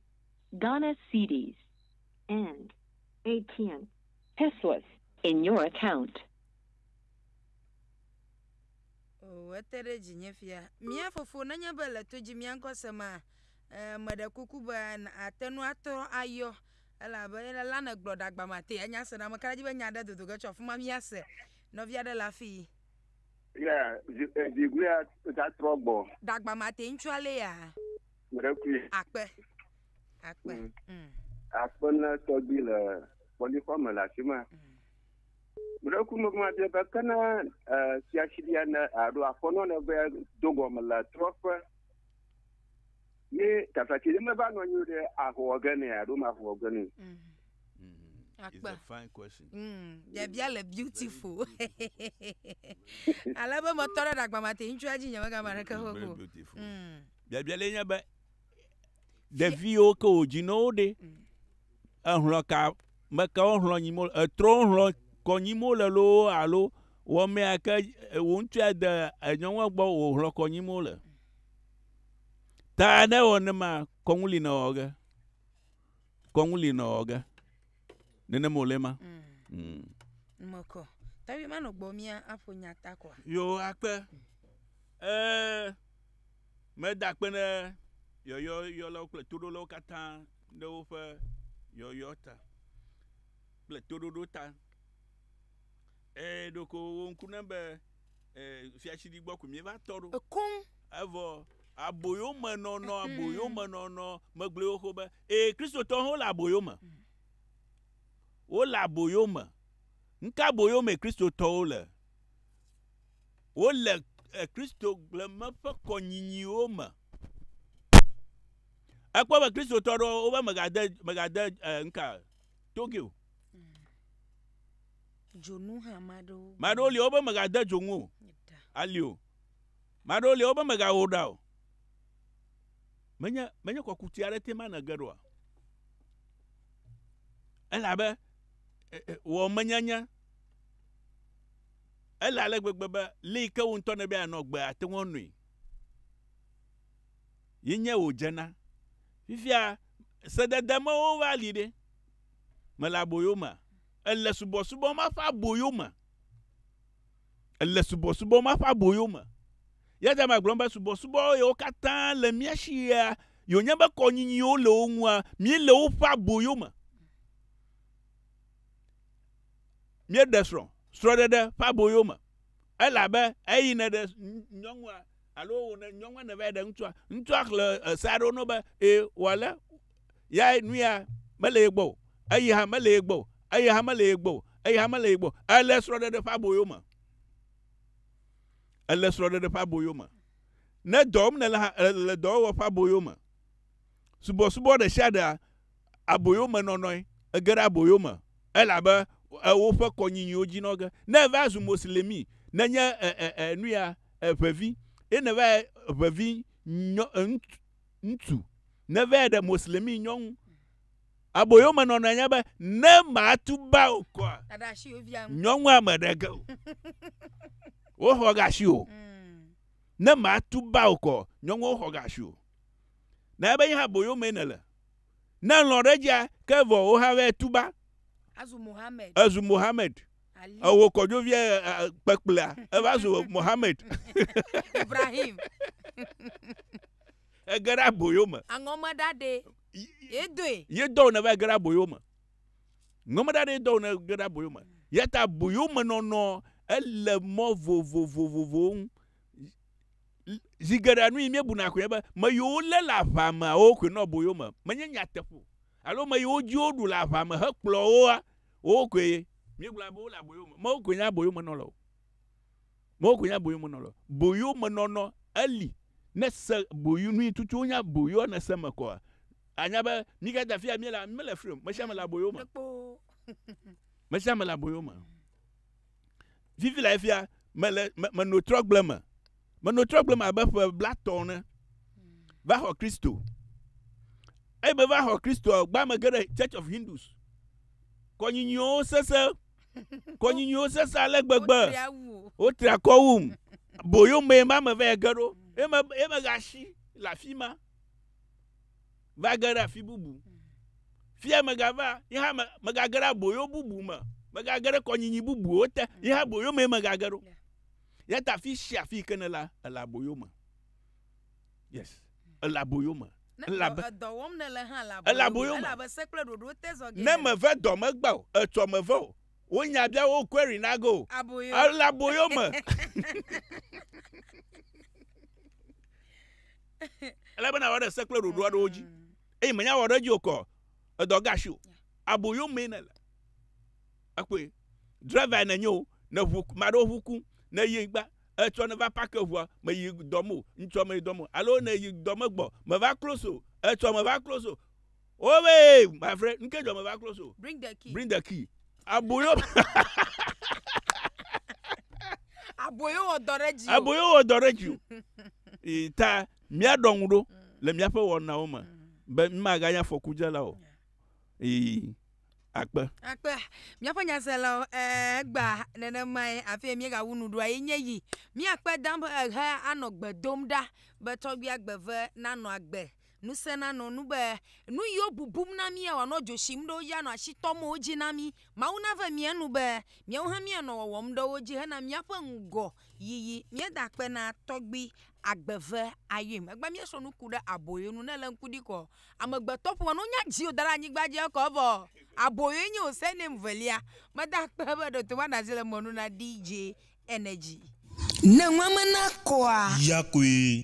Ghana cedis and ATM Pesos. In your account. Oo, ete ɖe dzinye fia. Mía Fofo, nenye be le to dzi mía ŋkɔ se ma, e, meɖe kuku be àte ŋu atrɔ ayɔ, elabe ele la nègblɔ ɖagba mate anya se na ame ka ɖe dzi be nya aɖe dodo ge tso afi ma míase. Nɔvi aɖe le afii. Yeah, zi, eh, zi gulia ta trɔ gbɔ. Ɖagba mate ŋutsua lea. Meɖekui. Akpe. Akpe. Mm. Mm. Akpe na tɔgbi le kpɔlixɔ me le afi ma. Mm. Meɖekui me kuma bia be kena fiasiɖia ne aɖo aƒenɔ ne be do gɔme le trɔƒe. Ye tafati ne meva nɔ anyi ɖe ahɔ ge ne aɖo ma ahɔ ge ne. Mm. It's a fine question. Mm, biabia le beautiful. Ale be metɔ ɖe ɖagbamate ŋutsua dzi nyemegama ɖeke ho ko. Mm. Biabia le nye be ɖeviwo ke wò dzi nɔ wo ɖe ehlɔ ka me ke wo hlɔ nyi mo etrɔ wo hlɔ kɔ nyi mo le lo alo wɔmɛ ke wo ŋutsua de enyɔnua gbɔ wo hlɔ kɔ nyi mo le. Ta ne wɔ ne ma kɔnu li nɔ wɔ ge. Kɔnu li nɔ wɔ ge. Nene mo le ma. Mm. Moko. Tabi ma no gbɔ mia apo nyata kwa. Yo akpe. Eh Meda akpe ɖe yɔyɔyɔlawo kple toɖolawo katã ɖe woƒe yɔyɔ ta kple toɖoɖo ta. Ee, ɖeko wo ŋku nem be ee, fiatsidi gbɔ ko míeva tɔ ɖo. Koŋ. Evɔ aboyomenɔnɔ, aboyomenɔnɔ megblɔe xoxo be, ee, Kristotɔwo hã wole aboyo me. Mm. Wole aboyo me. Nu ka aboyo me Kristotɔwo le? wole Kristogble me ƒe kɔnyinyiwo me. Ekpɔ be Kristotɔ ɖewo wobe megade megade eh, nka toge o. Dzonu hã maɖewo. Maɖewo li wobe megade dzonu o. Ali o. Maɖewo li wobe megawɔ ɖa o. Menye menye kɔkuti aɖe te ma nege ɖoa. Elabe wɔ menyenye Ele ale gbegbe be li yi ke wò ŋutɔ nèbe yeanɔ agbe ate ŋu anoe. Yi nye wòdze na. Fifia sedede mewo va li ɖe? Mele aboyo mea? Èle subɔsubɔ ma ƒe aboyo me? Èle subɔsubɔ ma ƒe aboyo me? Ya ta magblɔm be subɔsubɔ yewo katã le mía si ɣea yi wònye be kɔnyinyiwo le wo ŋua, míele woƒe aboyo me. míeɖe srɔ̃ srɔ̃ɖeɖe ƒe aboyo me. Elabe eyi neɖe nyɔnua alo wone nyɔnua nevae ɖe ŋutsua, ŋutsua xlẽ ese aɖewo no be e wòale ya nuya mele ye gbɔ o, eyi hã mele ye gbɔ o, eyi hã mele ye gbɔ o, eyi hã mele ye gbɔ o. Ele srɔ̃ɖeɖe ƒe aboyo me. Ele srɔ̃ɖeɖe ƒe aboyo me. Ne dɔ wɔm nèle hã, èle dɔwɔwɔ ƒe aboyo me. Subɔsubɔ ɖe sia ɖea aboyomenɔnɔe. Ege ɖe aboyo me elabe woƒe kɔnyinyiwo dzi nɔ ge. Ne èva zu Moslemi, nènye nuya ʋevi, ye nèva ʋevi ŋutsu, nèva ɖe Moslemi nyɔnu, aboyomenɔnɔe nye be, ne matu ba wò kɔa, nyɔnua meɖe ge o. Woxɔ ga si o. Ne matu ba wò kɔa, nyɔnua woxɔ ga si o. Na ebe nye hã boyo mee nèle. Ne lɔ̃ ɖe edzia, ke vɔ wò hã vɛ tuba. Azu Mohammed. Ezu Mohammed. Ali. Ewo kɔdzoviɛ kpekplea, eva zu Mohammed. Ibrahim. Ege ɖe aboyo me. Aŋɔme ɖa ɖe ye doe. Ye dɔwò nèva ge ɖe aboyo me. Ŋɔme ɖa ɖe ye dɔwò nège ɖe aboyo me. Yata aboyo me nɔnɔ ele mɔ vovovovovowo ŋu. zi geɖe nu yi míebuna koe be me yi wolé le aʋa meawo koe nɔ boyo me. Menye nyateƒo alo me yi wodzi woɖu le aʋa me hekplɔ woa, wowo koe míegblɔna be wole aboyo me. Mewo koe nye aboyomenɔla o. Mewo koe nye aboyomenɔla o. Boyomenɔnɔ eli. Ne se boyo nu yi tutu wonye aboyoa ne se eme kɔa, anya be mí katã afi ya míele mele fri o. Mesiame le aboyo me. Mesiame le aboyo me. Vivi lae fia mele meno trɔgble me. Meno trɔgble me abe ƒe blatɔ ne va xɔ Kristo. Eye meva xɔ Kristo gbã me ge ɖe Church of Hindus. Kɔnyinyiwo sese. Kɔnyinyiwo sese ale gbegbe. Wotri akɔ wum. Boyo mee ma me va ge ɖo. Eme eme gashi le afi ma. va ge ɖe afi bubu. Fia megava, ye hã megage ɖe aboyo bubu me, megage ɖe kɔnyinyi bubuwo te, ye hã aboyo mee megage ɖo. Ya ta afi sia afi ke ne la, ele aboyo me. Yes, ele aboyo me. Elabe edɔ wɔm nele hã le aboyo me. Elabe se kple ɖoɖo te zɔ ge. Ne meve dɔ megbe o, etsɔ meve o. Wo nya bia wo query na go. Aboyo. Ele aboyo me. Ele bena wɔ ɖe se kple ɖoɖo aɖewo dzi. Mm. Eye menya wɔ ɖe dzi okɔ. Edɔ gashi o. Aboyo me ne le. Ekpɔe. Driver ne nyo ne ʋu ma ɖo ʋu ku ne yi gba etsɔ ne va park ʋua me yi dɔ mo ŋtsɔ me dɔ mo alo ne yi dɔ me gbɔ me va close o etsɔ me va close o Oh wait, my friend, nke jɔ me va close o. Bring the key. Bring the key. Aboyo. Aboyo wɔ dɔ ɖe dzi. Aboyo wɔ dɔ ɖe dzi. Ta míaɖɔ ŋu ɖo le míaƒe wɔnawo me be mímaganye afɔkudzela o. Ee. Akpe. Akpe. Míaƒe nyaselawo egba nenemae afi míegawu nu ɖoa ye nye yi. Míakpe dam ehe anɔ gbe dom ɖa be tɔgbi agbe ve nanɔ agbe Ŋusẽ nanɔ nu be nu yi wo bubum na mía wòanɔ dzo tsim ɖe wo dzi anɔ asi tɔm wo dzi na mí. Mawu nave mía nu be míawo hã míanɔ wɔwɔm ɖe wo dzi hena míaƒe ŋgɔ yiyi. Míeda akpe na Tɔgbui Agbeve Ayim. Egbe míesrɔ̃ nu ku ɖe aboyo nu. Ne èle ŋku ɖi kɔ amegbetɔ ƒome no nya dziwò da ɖe anyigba dzi ekɔ evɔ. Aboyoe nye wò surname velia. Meda akpe be ɖe wòto va ɖe asi le mɔ nu na DJ Energy. Ne nua mena kɔa? Ya koe.